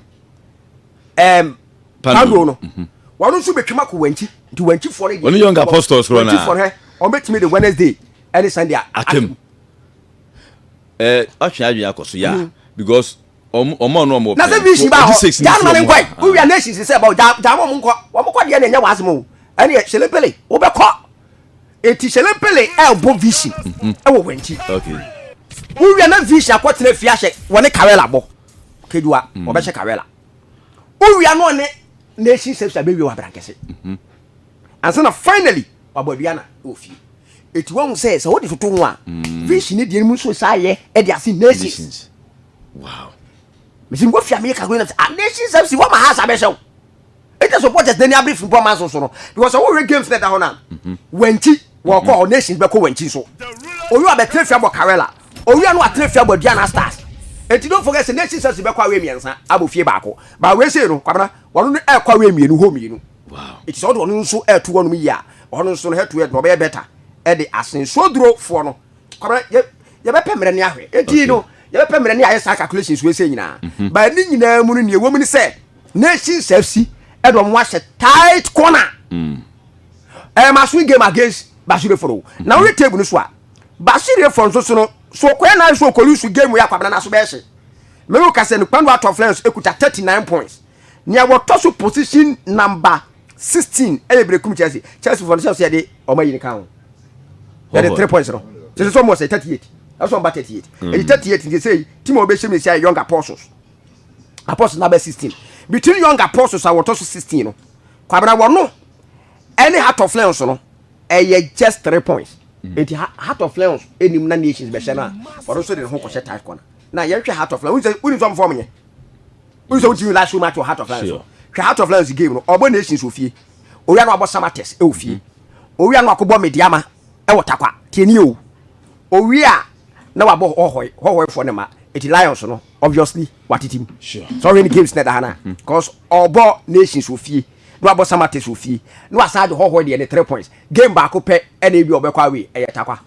ɛɛm pando no mhm. wɔn nso betwam akɔ wɔn akyi nti wɔn akyi fɔre deɛ wɔn young apostles kura na wɔn akyi fɔre wɔn betumi de wednesday ɛne sunday atem ɛɛ ɔtwe adwene akɔ so yaa mhm. because ɔmo ɔmo ɔno ɔmo pɛn na sɛ vision baa hɔ gya anuma ne nkɔ yi wowia nations sɛ ɛbɔ gya gya wɔn nkɔ wɔn kɔ deɛ na ɛnyɛ wɔn asɛm o ɛne yɛ selepele wobɛkɔ. Eti Shelempele ɛɛbɔ Vishi ɛwɔ Wɛnkyi. Wowia na Vishi akɔtena fie ahyɛ wɔne Kawela bɔ. Kejuwa ɔbɛhyɛ Kawela. Wowia na ɔne Nation Service abɛwie wɔ Abrankɛse. Ansa na finally wabɔ Aduana wɔ fie. Eti wahu sɛ sɛ wode toto ho a Vishi ne deɛ mu nso saa yɛ ɛde ase Nations. Wow. Mesi nkɔ fie a meyɛ calculate na sɛ a Nation Service wɔma ha saa bɛhyɛ wo. ɛnyɛ sɛ ɔbɔ gyadani abere firi bɔ manso so no because sɛ wohwɛ games na ɛda hɔ no a mhm. wankyi wɔkɔ hɔ mhm. nation bɛkɔ wankyi so owi abɛtena fia bɔ karela owia no atena fia bɔ aduana stars eti don forget sɛ nation stars bɛkɔ awɛ mmiɛnsa abɔ fie baako ba awɛ sei no kwabena wɔn no ɛkɔ awɛ mmienu hɔ mmienu eti sɛ ɔde ɔno nso ɛtu hɔ nom yie a ɔno nso no ɛtu yɛ no ɔbɛyɛ bɛta ɛde asen soduro foɔ no kwabena yɛ yɛbɛpɛ mmerɛ ne ahwɛ eti no yɛbɛpɛ mmerɛ ne ayɛ saa calculations wɔ ɛsɛ nyinaa mhm. ba ne nyinaa mu no nea ɛwɔ mu ne sɛ Nations FC ɛde wɔn ahyɛ tight corner mm. ɛyɛ ma so game against Bashiri Foro mm. na wɔyɛ table no so a Bashiri Foro nso so no so ɔkɔyɛ nan so ɔkɔlu so game yɛ akwabena na so bɛyɛ hyɛ mɛmu kasɛ no Kpando Out of Lens ekuta thirty nine points nea wɔtɔ so position number sixteen ɛyɛ Berekum Chelsea Chelsea foro no sɛ ɔsɛ yɛde wɔn ayi ne kan ho yɛde three points no sɛ sɛ wɔn wɔ sɛ thirty eight ɛsɛ wɔn ba thirty eight ɛyɛ thirty eight nti sɛ team a wɔbɛhyɛ mu nsia yɛ Young Apostles. apostles number sixteen between young apostles a wɔtɔ so sixteen no kwabena wɔn no ɛne heart of lions no ɛyɛ just three points mm. eti heart of lions enim na nations bɛhyɛ no a wɔn nso de ne ho kɔhyɛ tight corner na yɛhwɛ heart of lions wosɛ wosɛ ɔmo fɔm yɛ wosɛ wotumi last show match wɔ heart of lions so hwɛ heart of lions game no ɔbɔ nations wɔ fie owia no abɔ samates ɛwɔ fie mm-hmm. owia no akɔbɔ mediama ɛwɔ takwa tiɛni o owia na wabɔ hɔhɔe hɔhɔefoɔ ne ma eti lions no obviously watete mu sɛ ɔhwɛ ne games na ɛda ha no a bcause ɔbɔ nations wɔ fie na wabɔ samates wɔ fie na wasan de hɔhɔ deɛ ne three points game baako pɛ ɛna ebi ɔbɛkɔ away ɛyɛ takwa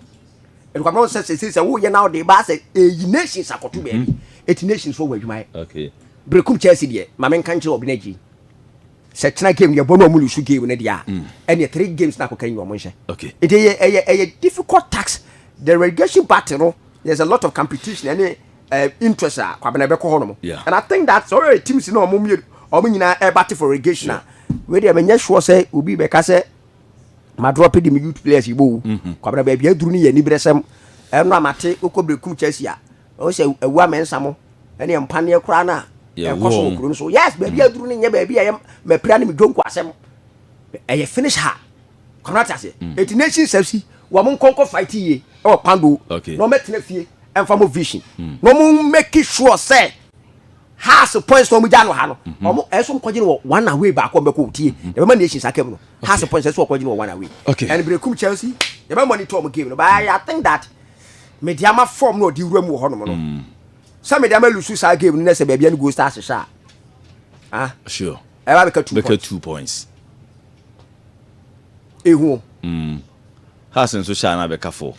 ɛdukɔmɔ sɛ sɛ sɛ sɛ woyɛ na ɔde ba sɛ ɛyi nations akɔto baabi ɛti mhm. nations fɔ wɔ adwuma yɛ berekum chelsea deɛ ma menka nkyerɛ ɔbi no agyi sɛ kyena game no yɛbɔ no ɔmo lusu game no deɛ a mm. ɛneɛ three games na akɔka nyi ɔmo nhyɛ ɛti ɛyɛ ɛyɛ difficult tax the relegation battle no there's a lot of competition ɛne uh, interest a kwabena ɛbɛkɔ hɔ nom yeah. and i think that sɛ ɔyɛ team si na ɔmo mmienu ɔmo nyinaa ɛba te for irrigation yeah. a wei deɛ menyɛ sure sɛ obi bɛka sɛ madrɔ pe de me youth players yi bɔ o mhm. kwabena baabi aduru no yɛ aniberɛsɛm ɛno a mate wokɔ berɛkum kyɛsi a ɔwɔ sɛ awua mɛnsa mo ɛne ɛmpaneɛ koraa no a ɛkɔ so wɔ kuro no so yes baabi mhm. aduru no nyɛ baabi a ɛyɛ mapira ne medwonko asɛm ɛyɛ finish ha kɔnɔ ati aseɛ mm. eti nation sɛ si wɔn mo nkɔnkɔ fight yie ɛwɔ pando na wɔn ɛtena fie ɛnfa mo vision mm. na wɔn make sure sɛ house points na wɔn gya no ha no mhm. wɔn ɛso nkɔgye no wɔ one away baako bɛkɔ otie mhm. yɛbɛ ma nation sa kɛm no house points ɛso ɔkɔgye no wɔ one away ɛn bere kum chelsea yɛbɛ monitor wɔn game no but i think that mediama form na ɔdi wura mu wɔ hɔ nom no mm. sɛ mediama lusu saa game no na sɛ baabi ɛni goal stars hyɛ a ah sure ɛbɛ bɛka two points. ehu o. Mm. Has nso hyɛ a na abɛka fo.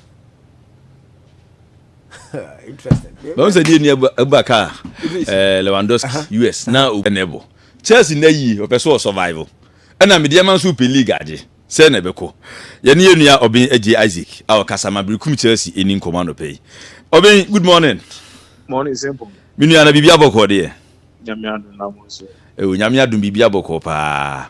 Interesting. Bɛn sɛ deɛ ni ɛba ka ɛɛ Lewandowski US na o ɛna ɛbɔ. Chelsea na yi ɔpɛ so ɔ survival. Ɛna mi deɛ ma nso pɛ league agye. Sɛ na ɛbɛkɔ. Yɛ ne yɛ nua ɔbɛn agye Isaac a ɔkasa ma birikum Chelsea ɛni nkɔmɔ anɔpɛ yi. Ɔbɛn good morning. Morning simple. Mi nua na biribi abɔkɔɔ deɛ. Nyame adom na mo nso. Ɛwɔ nyame adom biribi abɔkɔɔ paa.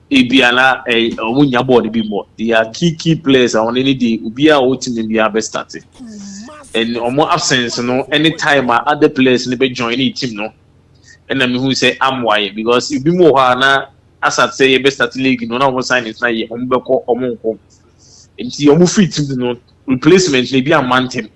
Ebia na wɔn nnya bɔɔl bi mmɔ. They are key key players a wɔn ani de obiara a ɔwɔ team no biara bɛ start. And wɔn absence no ne time a other players no bɛ join ne team no. Ɛna mi hu sɛ amoa yɛ because ebi mu wɔ hɔ a na asat sɛ yɛbɛ start league no na wɔn sign it na yɛ wɔn bɛkɔ wɔn nkɔ. Nti wɔn free team no replacement na ebi amma ntɛm.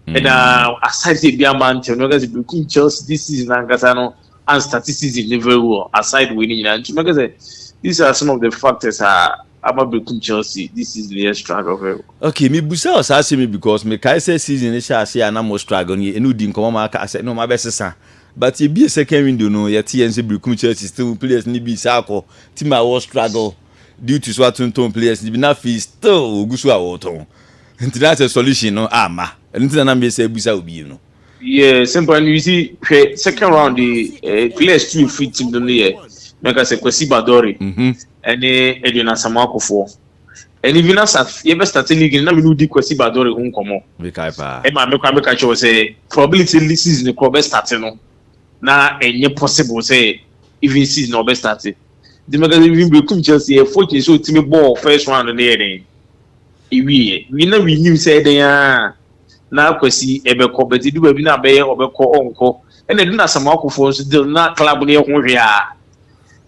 ɛna mm. aside sɛ ebi ama ntɛm no kɛsɛ beku chelsea this season ankasa no and statistics ne very well aside wei ne nyinaa nti mɛka sɛ these are some of the factors a ama beku chelsea this season yɛ struggle very well. okay mi busa wɔ saa asɛm yi because mi kae sɛ season ne hyɛ ase a na mo struggle no ɛnu di nkɔmɔ ma aka sɛ ne mo abɛ sesa but ebie second window no yɛte yɛn sɛ beku chelsea still players ne bi saa akɔ team a wɔ struggle due to so atontɔn players ne bi na afei still ogu so a wɔtɔn. Nti na sɛ solution no amma. Ɛno nti na na me sɛ bisa wo bio no. Yeah simple and you see hwɛ second round de eh, players two efiri team no no yɛ mɛka sɛ Kwasi Badore ɛne Edwin Asamoah Kofoɔ and even asa yɛbɛ start league no na me ne wodi Kwasi Badore ho nkɔmɔ Mekae paa. ɛma me koraa meka kyerɛ wo sɛ probability ne season korɔ ɔbɛ start no na ɛnyɛ possible sɛ even season na ɔbɛ start nti mɛka sɛ even Berekum Chelsea ɛyɛ fortunate sɛ otumi bɔɔ first round no yɛ dɛn Ewiei ɛ, na minnyim sɛ ebɛyɛ a na Kwesi bɛkɔ, but edu baabi na abɛyɛ ɔbɛkɔ ɔnnkɔ. Nna edu no Asamoah Kuffour nso deal no, na club no yɛ ho hwe ara,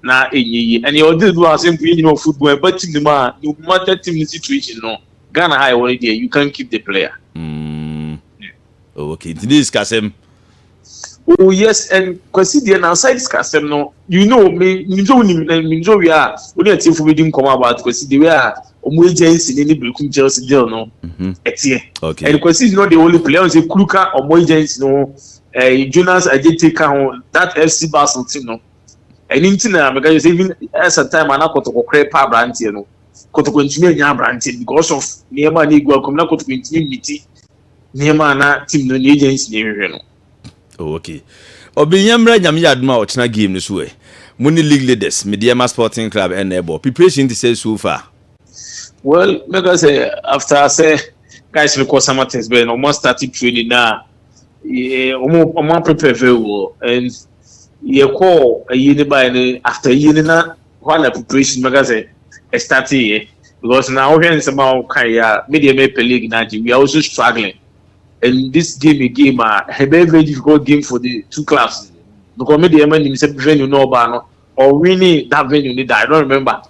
na ennyɛ yie. Ɛnna yɛwɔ deal bi wɔ ha sɛ mpo yɛn nyina wɔ football a, ɛba team no mu a, no matter team no situation no, Ghana ha a yɛwɔ no deɛ, you can't keep the player. Okay nti ne yɛ sikasɛm. Oh yes and Kwasi deɛ na aside sikasɛm no you know me nim sɛ wonim na nim sɛ owia a wo ne atiefo bɛdi nkɔmmɔ about Kwasi the way a ɔmo agency ne ne Berekum Chelsea deal no ɛteɛ Okay. and Kwasi is not the only player ɔn sɛ kuru ka ɔmo agency no ho eh, Jonas Ajete ka ho that FC Basel team no ɛno nti na meka kyerɛ sɛ even ɛsa time a na kɔtɔkɔ korɛ pa aberanteɛ no kɔtɔkɔ ntumi anya aberanteɛ no because of nneɛma a na ɛgu akɔm na kɔtɔkɔ ntumi mmiti nneɛma a na team no ne agency no hwehwɛ no. Oh, okay. Ɔbɛnya mmra nyame yɛ adom a ɔkyena game no so ɛ. Mo ne league leaders, Medeɛma Sporting Club ɛna ɛbɔ. Preparation te sɛ so far? Well, mɛka sɛ after sɛ guys no kɔ summer test bɛyɛ no, wɔn start training na wɔn wɔn prepare very well and yɛkɔɔ ayie no baeɛ no after ayie no na hɔ ara na preparation bɛka sɛ ɛstartee yɛ because na wohwɛ nsɛm a wokae yɛ a me deɛ mepɛ league no agye we are also struggling and this game a game a ɛbɛyɛ very difficult game for the two clubs because me deɛ ma nim sɛ venue no ɔbaa no ɔwini that venue no da I don't remember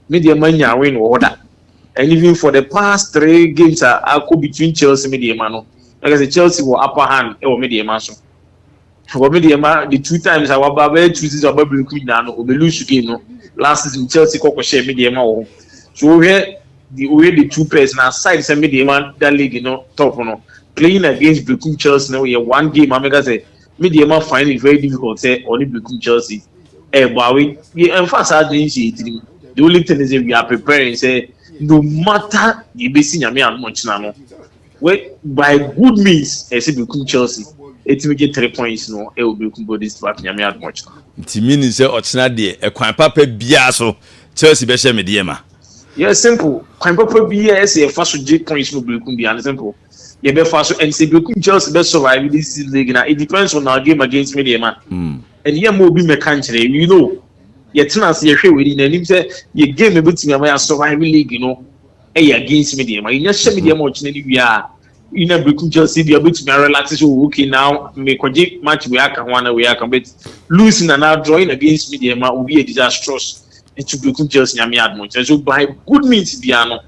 me deɛ ma nya win wɔ hɔ da and even for the past three games a akɔ between Chelsea me deɛ ma no like I said Chelsea wɔ upper hand ɛwɔ me deɛ ma so. wɔ me deɛ ma the two times a waba bɛyɛ two season ɔba biriku nyinaa no ɔbɛ lose game no last season Chelsea kɔkɔ hyɛ me deɛ ma wɔ hɔ so wohwɛ the woyɛ the two pairs na aside sɛ me deɛ ma da league no top no playing against biriku Chelsea no yɛ one game a meka sɛ me deɛ ma find it very difficult sɛ ɔne biriku Chelsea ɛɛbɔ awe yɛ ɛnfa saa de nhyɛ yɛ tirim the only thing is we are preparing sɛ no matter yɛbɛsi nyame ano ɔkyena no wɛ by good means ɛsɛ bekum Chelsea ɛtumi gye three points no ɛwɔ bekum Golden State Warriors nyame adom ɔkyena. Nti me nim sɛ ɔkyena deɛ ɛkwan papa biaa so Chelsea bɛhyɛ me deɛ ma. Yes simple kwan papa biaa ɛsɛ yɛfa so gye points no bekum bia no simple yɛbɛfa so and sɛ bekum Chelsea bɛ survive this season league na it depends on our game against me deɛ ma and yɛ ma obi mɛka nkyerɛ you know yɛtena ase yɛhwɛ w'ani na nim sɛ yɛ game ɛbɛtumi ama yɛ survive league no. ɛyɛ against me deɛ ma yɛnya hyɛ me deɛ ma ɔkyena no wie a yina bɛkum chelsea deɛ wobɛtumi arelax sɛ oh, okay na mekɔgye match wei aka ho ana wei aka but losing anaa drawing against me deɛ ma obi yɛ disastrous nti bɛkum chelsea nyame adom ɔkyena so by good means biara no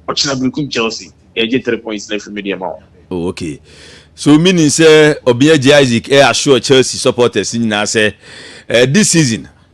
ɔkyena bɛkum chelsea yɛgye three points na afiri me deɛ ma wo oh, okay so meaning sɛ ɔbea gye isaac ɛyɛ eh, assure chelsea supporters nyinaa sɛ uh, this season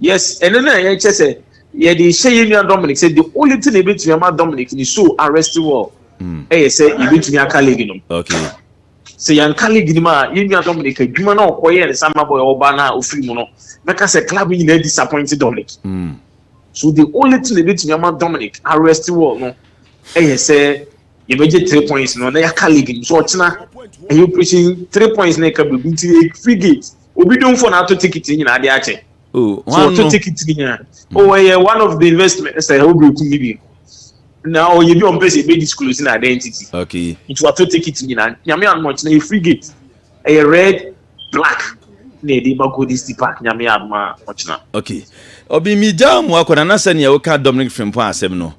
yes ɛno na yɛkyɛ sɛ yɛde hyɛ yɛn nua dominic sɛ the only thing ebetumi ama dominic ne so arrest wɔ hmm. ɛyɛ sɛ ebetumi aka league no sɛ yɛn ka league no mu a yɛn nua dominic adwuma na ɔkɔ yɛ ne samba boy ɔba na ofiri mu no bɛka sɛ club nyinaa disappoint dominic hmm. so the only thing ebetumi ama dominic arrest wɔ no ɛyɛ sɛ yɛbɛgye three points no na yɛaka league no so ɔkyena ɛyɛ operation three points na ɛka biribi nti free gate. obi domfo na ato ticket nyina ade akyɛ oh, so ɔto ticket nyina hmm. oh ɛyɛ one of the investment sɛ ɛwɔ bere kum ne bi na ɔyɛ bi ɔmpɛ sɛ ɛbɛ disclose na identity okay nti wato ticket nyina nyame anoma kyena yɛ free gate ɛyɛ red black na ɛde ba golden city park nyame anoma ɔkyena okay ɔbi mi gya mu akɔda na sɛ nea woka dominic frimpɔ asɛm no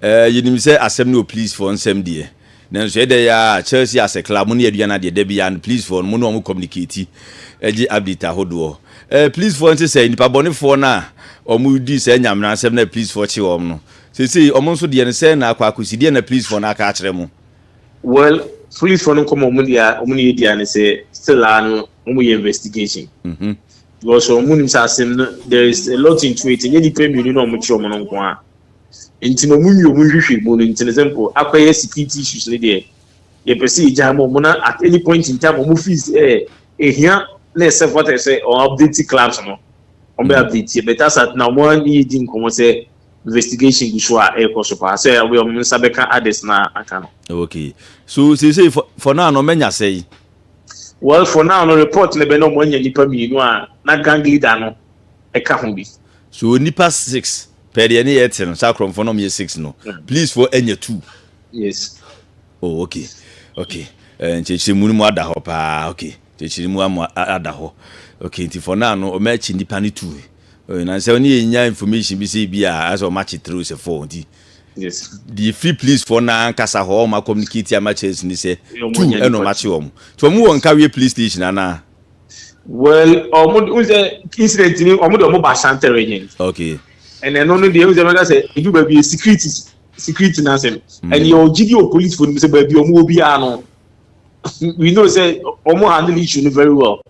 ɛɛ eh, yɛnim sɛ asɛm no wɔ police fɔ nsɛm deɛ Nanso ɛdɛ yi aa Chelsea asɛ club mo ne aduan no adeɛ dabi and please foɔ no mo ne ɔmo communicate ɛgye update ahodoɔ ɛɛ please foɔ nte sɛ nipa bɔne foɔ no a ɔmo di saa nyamena nsɛm no a please foɔ kye ɔmo no sesei ɔmo nso deɛ no sɛn na akɔ akɔsi deɛ na please foɔ no aka akyerɛ mo. Well police foɔ no nkɔmɔ ɔmo deɛ a ɔmo ne yɛ di aa ne sɛ still aa no ɔmo yɛ investigation because ɔmo nim sɛ asem no there is a lot into it ɛnyɛ nipa mmienu na ɔmo kye ɔmo no nko aa. Ntsi ma ɔmo nwie ɔmo nhwehwɛ mu no, ntsi no sɛ mpo akɔyɛ security issues no deɛ, yɛpɛ sɛ yɛgyaa ma ɔmo na at any point in time ɔmo feel sɛ ehia na ɛsɛ fata sɛ ɔmo update clubs no, ɔmo bɛ update yɛ, but as at now ɔmo ara ne yɛ di nkɔmɔ sɛ investigation gu so a ɛɛkɔ so paa, sɛ ɔbɛyɛ ɔmo nsa bɛka ades no a aka no. Okay, so seesei for, for now no ɔmo anya sɛe? Well for now no report no bɛ na ɔmo anya nipa mmienu a na gang leader no ɛka ho bi. So nipa six Pɛ deɛ ne yɛ te no saa korɔmfoɔ na ɔmo yɛ six no please foɔ ɛnyɛ two. Yes. Oh ok ok eh, nkyerɛkyerɛ mu no mu ada hɔ paa ok nkyerɛkyerɛ mu amu ada hɔ ok nti for now no ɔmo akyi nipa ne two oh, na sɛ ɔne yɛ nya information bi sɛ ebi a asɛ ɔmo akyi three sɛ four nti. Yes. Deɛ efiri police foɔ na ankasa hɔ ɔmo akɔmunikate ama kyerɛ si ne sɛ two ɛna ɔmo akyi ɔmo nti ɔmo wɔ nkaweɛ police station anaa. Well, ọmụ dị nze incident ni ọmụ dị ọmụ ba Santa Regent. Okay. And ẹnu no deɛ nze mẹka sɛ edu baabi yɛ security security n'asɛm. Mm. And yɛ ɔgye di o police fo nim sɛ baabi ọmụ wɔ biara no we know sɛ ọmụ handle issue no very well.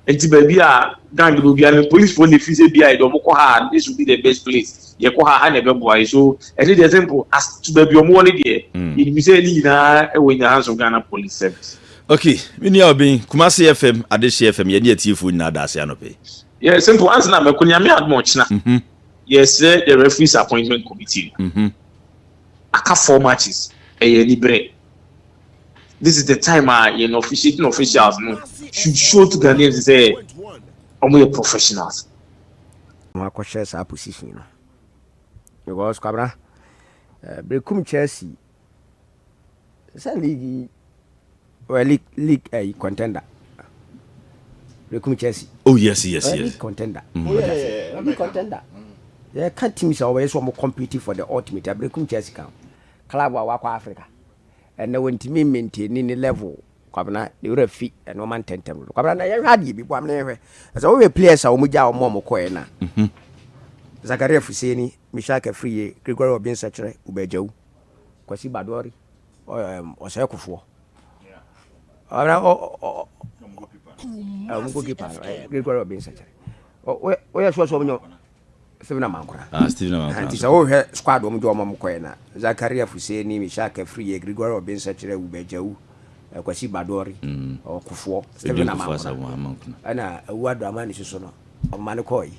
Nti baabi a gang no biara no police fo na efi sɛ biara yɛ de ọmụ kɔ ha this will be the best place yɛ kɔ ha ha na ɛbɛboa yɛ so ɛne deɛ simple as to baabi ọmụ wɔ ne deɛ yɛnim sɛ ne nyinaa ɛwɔ nyanso Ghana police service. Ok me nua Obeng, Kumasi FM, Adehye FM, yɛne atiefoɔ nyinaa da ase anɔpa yi. Yeah, simple answer na mɛkɔ nyame adom ɔkyena. Mm hmm. Yɛsrɛ the referees appointment committee no. Mm hmm. Aka four matches, ɛyɛ aniberɛ. This is the time a yɛn officiating officials no should show to Ghanaians sɛ wɔn yɛ professionals. Wɔn akɔhyɛ saa position no because kwabena, eh, bekum Chelsea. Sɛ league yi ɔyɛ league league ɛyi eh, contender rekum Chelsea. oh yes yes ɔyɛ yes league contender mm. oh, yeah, yeah, yeah. league contender yɛka teams a wɔbɛyɛ sɛ wɔn compete for the ultimate abrekum Chelsea kan club a wakɔ Africa ɛnna wɔntumi maintain ne level kwabena ne wura fi nneɛma ntɛntɛm no kwabena na yɛhwɛ adeɛ bi bɔ amena yɛhwɛ ɛsɛ wɔhwɛ players a wɔn gya wɔn a wɔn kɔɛ na mhm. Zakaria Fuseni Mishak Afriyie, Gregory Obeng Sɛkyerɛ, Uba Ajawu, Kwasi Badori, ɔsɛe kofoɔ, ɔmo goalkeeper no, Gregory Obeng Sɛkyerɛ. Woyɛ sure sɛ ɔmo nyɛ Stephen Amankora? Ah, Stephen Amankora. Nti sɛ wohwɛ squad ɔmo de ɔmo ɔmo kɔɛ na Zakaria Fuseni, Mishak Afriyie, Gregory Obeng Sɛkyerɛ, Uba Ajawu, Kwasi Badori, ɔkofoɔ, Stephen Amankora, ɛna Awu Adoamani soso no ɔmo ma no kɔɔ yi.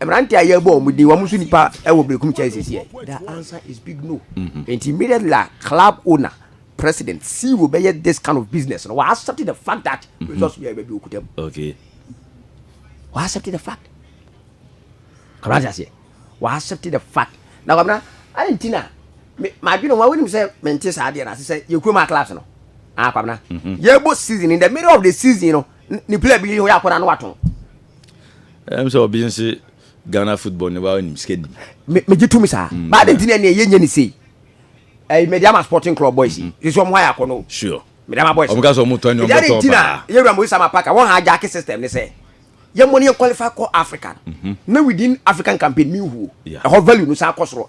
Mmerante a yɛbɔ wɔn din, wɔn nso nipa wɔ Berekum kyɛn sisi ɛ. The answer is big no. Mm-hmm. And immediately a club owner, president, CEO bɛyɛ this kind of business, no, I accept the fact that mm-hmm. resource bi a yɛbɛ bi okuta mu. Okay. I accept the fact. Kɔrɔ ase aseɛ. I accept the fact. Na kɔmina, ayi nti na, maa dwi na wɔn awinim sɛ mɛ nti saa adeɛ na ase sɛ yɛ kurom a class no. Ah kɔmina. Yɛ bɔ season in the middle of the season no, ni player bi yɛ hɔ yɛ akɔda no wa tɔn. ɛm sɛ obi nse ghana football ne wa nim sika nim megye to me saa mm. baa de nti ne ɛne ɛyɛ nyɛ ne sei ɛyi mede ama sporting club boys yi mm-hmm. sɛ ɔmo ayɛ akɔ no sure mede ama boys ɔmo ka sɛ ɔmo tɔ ne ɔmo tɔ paa na yɛwura mo isama paka wɔn ha agyaake system ne sɛ yɛmmɔ ne yɛ qualify kɔ africa mm-hmm. na within african campaign mi nhuo ɛhɔ value no san kɔ soro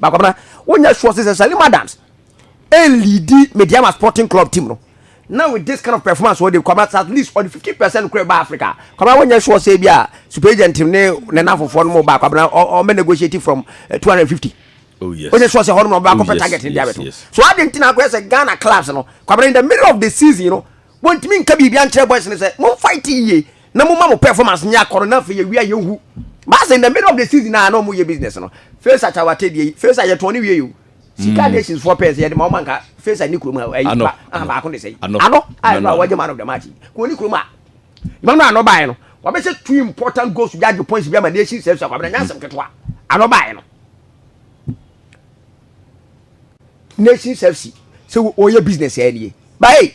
Ba Kwabena, wonyɛ sure sɛ Salim Adams ɛlidi Medeama Sporting Club team no na with this kind of performance ɔde Kwabena at least ɔde 50 percent kura ba Africa Kwabena wonyɛ sure sɛ bi a super agent ne ne nafofoɔ no mo ba Kwabena ɔmɛ negotiate from 250 eh, Oh yes. Wonyɛ sure sɛ hɔ no ma ɔbɛ akɔpɛ oh, yes, target ne de abɛto yes. so adi nti na akɔyɛ sɛ Ghana clubs no Kwabena in the middle of the season no wɔntumi nka biribi ankyerɛ boys no sɛ mo fight yie na mo ma mo performance nyɛ akɔrɔ na afei yɛwie a yɛnhu baasa in the middle of the season a na wɔyɛ business no fesa kyawate deɛ yi fesa yɛtɔn ne wie yi o sika mm. nations foɔ pɛɛ sɛ yɛde ma wɔn anka fesa ne kurom a ɛyi ba aha baako de sɛ yi ano a ɛno a wɔgye man of the match kò ne kurom a yɛn no ano baayɛ no wɔbɛhyɛ two important goals bi agye points bi ama nation sɛ so akɔ abena nyansɛm ketewa ano baayɛ no. nation service sɛ wɔyɛ business ɛyɛ nie bae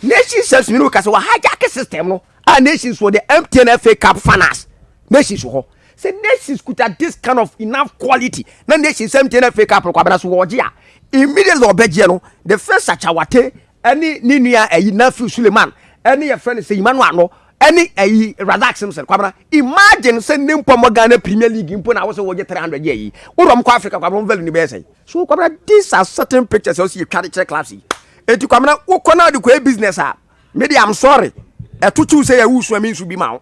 nation service mi no kasa wɔ hijack system no a nations wɔ the mtn fa cup finals nations wɔ hɔ sɛ nations kuta this kind of enough quality na nations mtn fa cup no kwabena so wɔgye a immediately ɔbɛgyeɛ no the first akyawate ɛne ne nua ayi Nafiu Suleiman ɛne yɛfrɛ no Seyimanu Ano ɛne ayi Razak Simpson Kwabena imagine sɛ ne mpɔ mɔ Ghana Premier League mpo na wosɛ wɔgye 300 yɛ ayi wo dɔm kɔ Africa Kwabena value ne bɛyɛ sɛn so Kwabena these are certain pictures ɛwɔ sɛ yɛtwa de kyerɛ clubs yi eti Kwabena wokɔ na de kɔ yɛ business a me de I'm sorry ɛto kyew sɛ yɛ wusua me nsu bi ma wo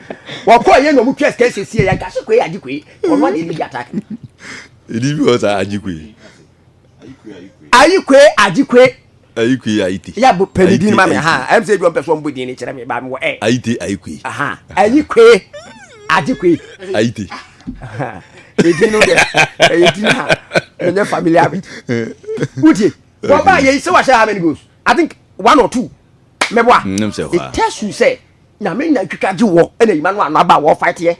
wɔkɔɔ yɛ na ɔmo twa sika siesie yɛ agya se koe agye koe ɔno adeɛ no di attack no. ɛdi bi hɔ saa agye koe ayi koe agye koe ayi koe ayi te yɛ bɔ pɛni din ma mi ha ɛm sɛ ebi wɔn pɛ so wɔn bɔ din ne kyerɛ mi ba mi wɔ ɛ ayi te ayi koe ayi koe agye koe ayi te edin no dɛ ɛyɛ din ha ɛnyɛ familiar bit wuti wɔn ba yɛ yi sɛ wɔahyɛ how many goals I think one or two mɛboa it tells you sɛ. nyame nya twitwa gye wɔ ɛna yima no ano aba wɔ fight yɛ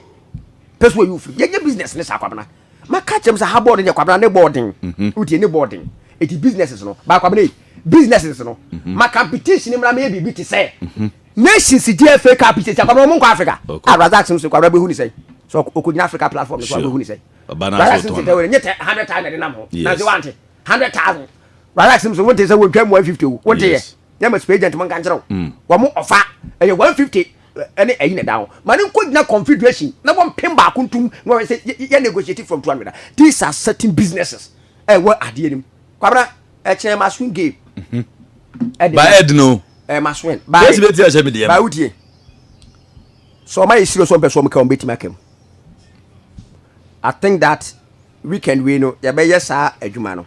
pɛsɛ wɔ yi ofiri yɛnyɛ business ne saa kwabena maka kyɛm sɛ ha bɔɔl no nyɛ kwabena ne bɔɔl den mhm. wotie ne bɔɔl den ɛti businesses no baa kwabena yi businesses no mhm. ma competition mmra meyɛ biribi te sɛ mhm. nations di fa cup sɛ sɛ kwabena ɔmo nkɔ africa a razak sɛ kwabena bɛhu ne sɛ sɛ ɔkɔgyina africa platform no so abɛhu ne sɛ razak sɛ sɛ tɛwɛrɛ nyɛ tɛ hundred thousand de nam ho na sɛ wante hundred thousand razak sɛ sɛ wonte sɛ wɔntwa mu 150 wo wonte yɛ na ma space agent mo nka nkyerɛ wo wɔn ɔfa ɛyɛ one fifty ɛne ɛyi na ɛda ho ma ne nkɔ gyina confederation na wɔn mpem baako ntum na wɔn sɛ yɛ yɛ negotiate from two hundred these are certain businesses ɛwɔ adeɛ nim kwabena ɛkyɛn ma swing game ɛdi ba ɛdi no ɛɛ ma swing ba ɛdi bɛ ti ahyɛ mi deɛ ba wutie sɛ ɔma yɛ serious wɔn pɛ so wɔn ka wɔn bɛ ti ma kɛm i think that weekend wei no yɛ bɛ yɛ saa adwuma no.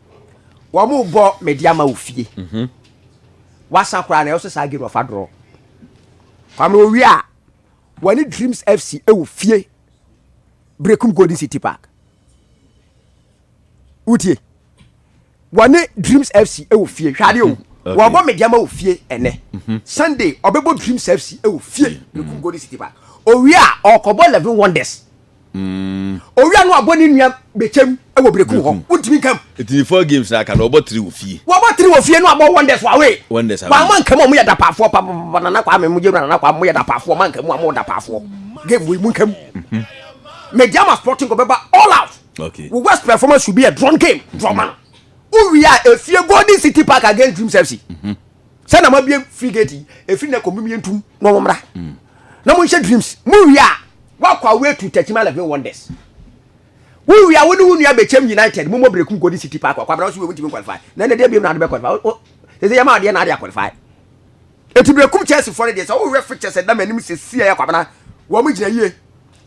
wɔn bɔ mɛdi ama wo fie mhm. wasa koraa na ɛwɔ sɛ saa gero ɔfa dorɔ kwame owie a wɔne dreams fc ɛwɔ fie brekum golden city park wotie wɔne dreams fc ɛwɔ fie hwɛ adeɛ o mhm. wɔbɔ mɛdi ama wo fie ɛnɛ mhm. sunday ɔbɛbɔ dreams fc ɛwɔ fie brekum golden city park owie a ɔkɔbɔ eleven wonders. owia no abɔ ne nua bɛkyɛm wɔ brekum hɔ wontumi nkam ɛti ne four games na aka na ɔbɔ tiri wɔ fie wɔbɔ tiri wɔ fie no abɔ wonders wawe wonders awe wɔama nkamu ɔmo yɛ dapaafoɔ papapapa nana kwame mo gyewura nana kwame mo yɛ dapaafoɔ ɔma nkamu ɔmo dapaafoɔ game wei mu nkamu mhm. mediama sporting kɔ bɛba all out okay. wo west performance should be a drawn game draw man mhm. wowia efie golden city park against dreams fc mm -hmm. sɛ na mabie free gate yi ɛfiri nɛ kɔmem yɛntum na ɔmo mmra na monhyɛ dreams mowie a woakɔ away to takyima eleven wonders wowie a wo ne wo nua bɛkyɛm united momɔ brekum golden city park akɔ abra wo so wei wontumi qualify na ɛnɛ deɛ biam na wode bɛ qualify sɛ sɛ yɛma adeɛ na ade aqualify ɛti brekum chelsea fɔ no deɛ sɛ wohwɛ fixtures ɛda m'anim sɛsi a yɛkɔ abena wɔn gyina yie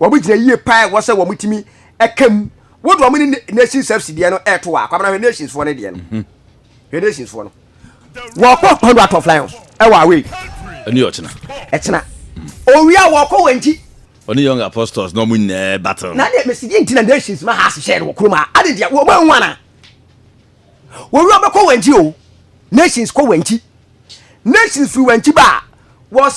wɔn gyina yie paa ɛwɔ sɛ wɔn tumi ɛka mu wode wɔn ne nations fc deɛ no ɛto a akɔ abena hwɛ nations fɔ no deɛ no mhm. hwɛ nations foɔ no wɔkɔ kɔndo atɔ flyers ɛwɔ away ɛne ɔkyena ɛkyena owia wɔkɔ wɔn ti ɔne young apostles na ɔmo nyinaa battle na deɛ mesi deɛ ntina nations ma ha ahyehyɛ no wɔ kurom a ade deɛ wɔn anwa na owia bɛkɔ wɔn ti o nations kɔ wɔn ti nations firi wɔn ti ba a wɔ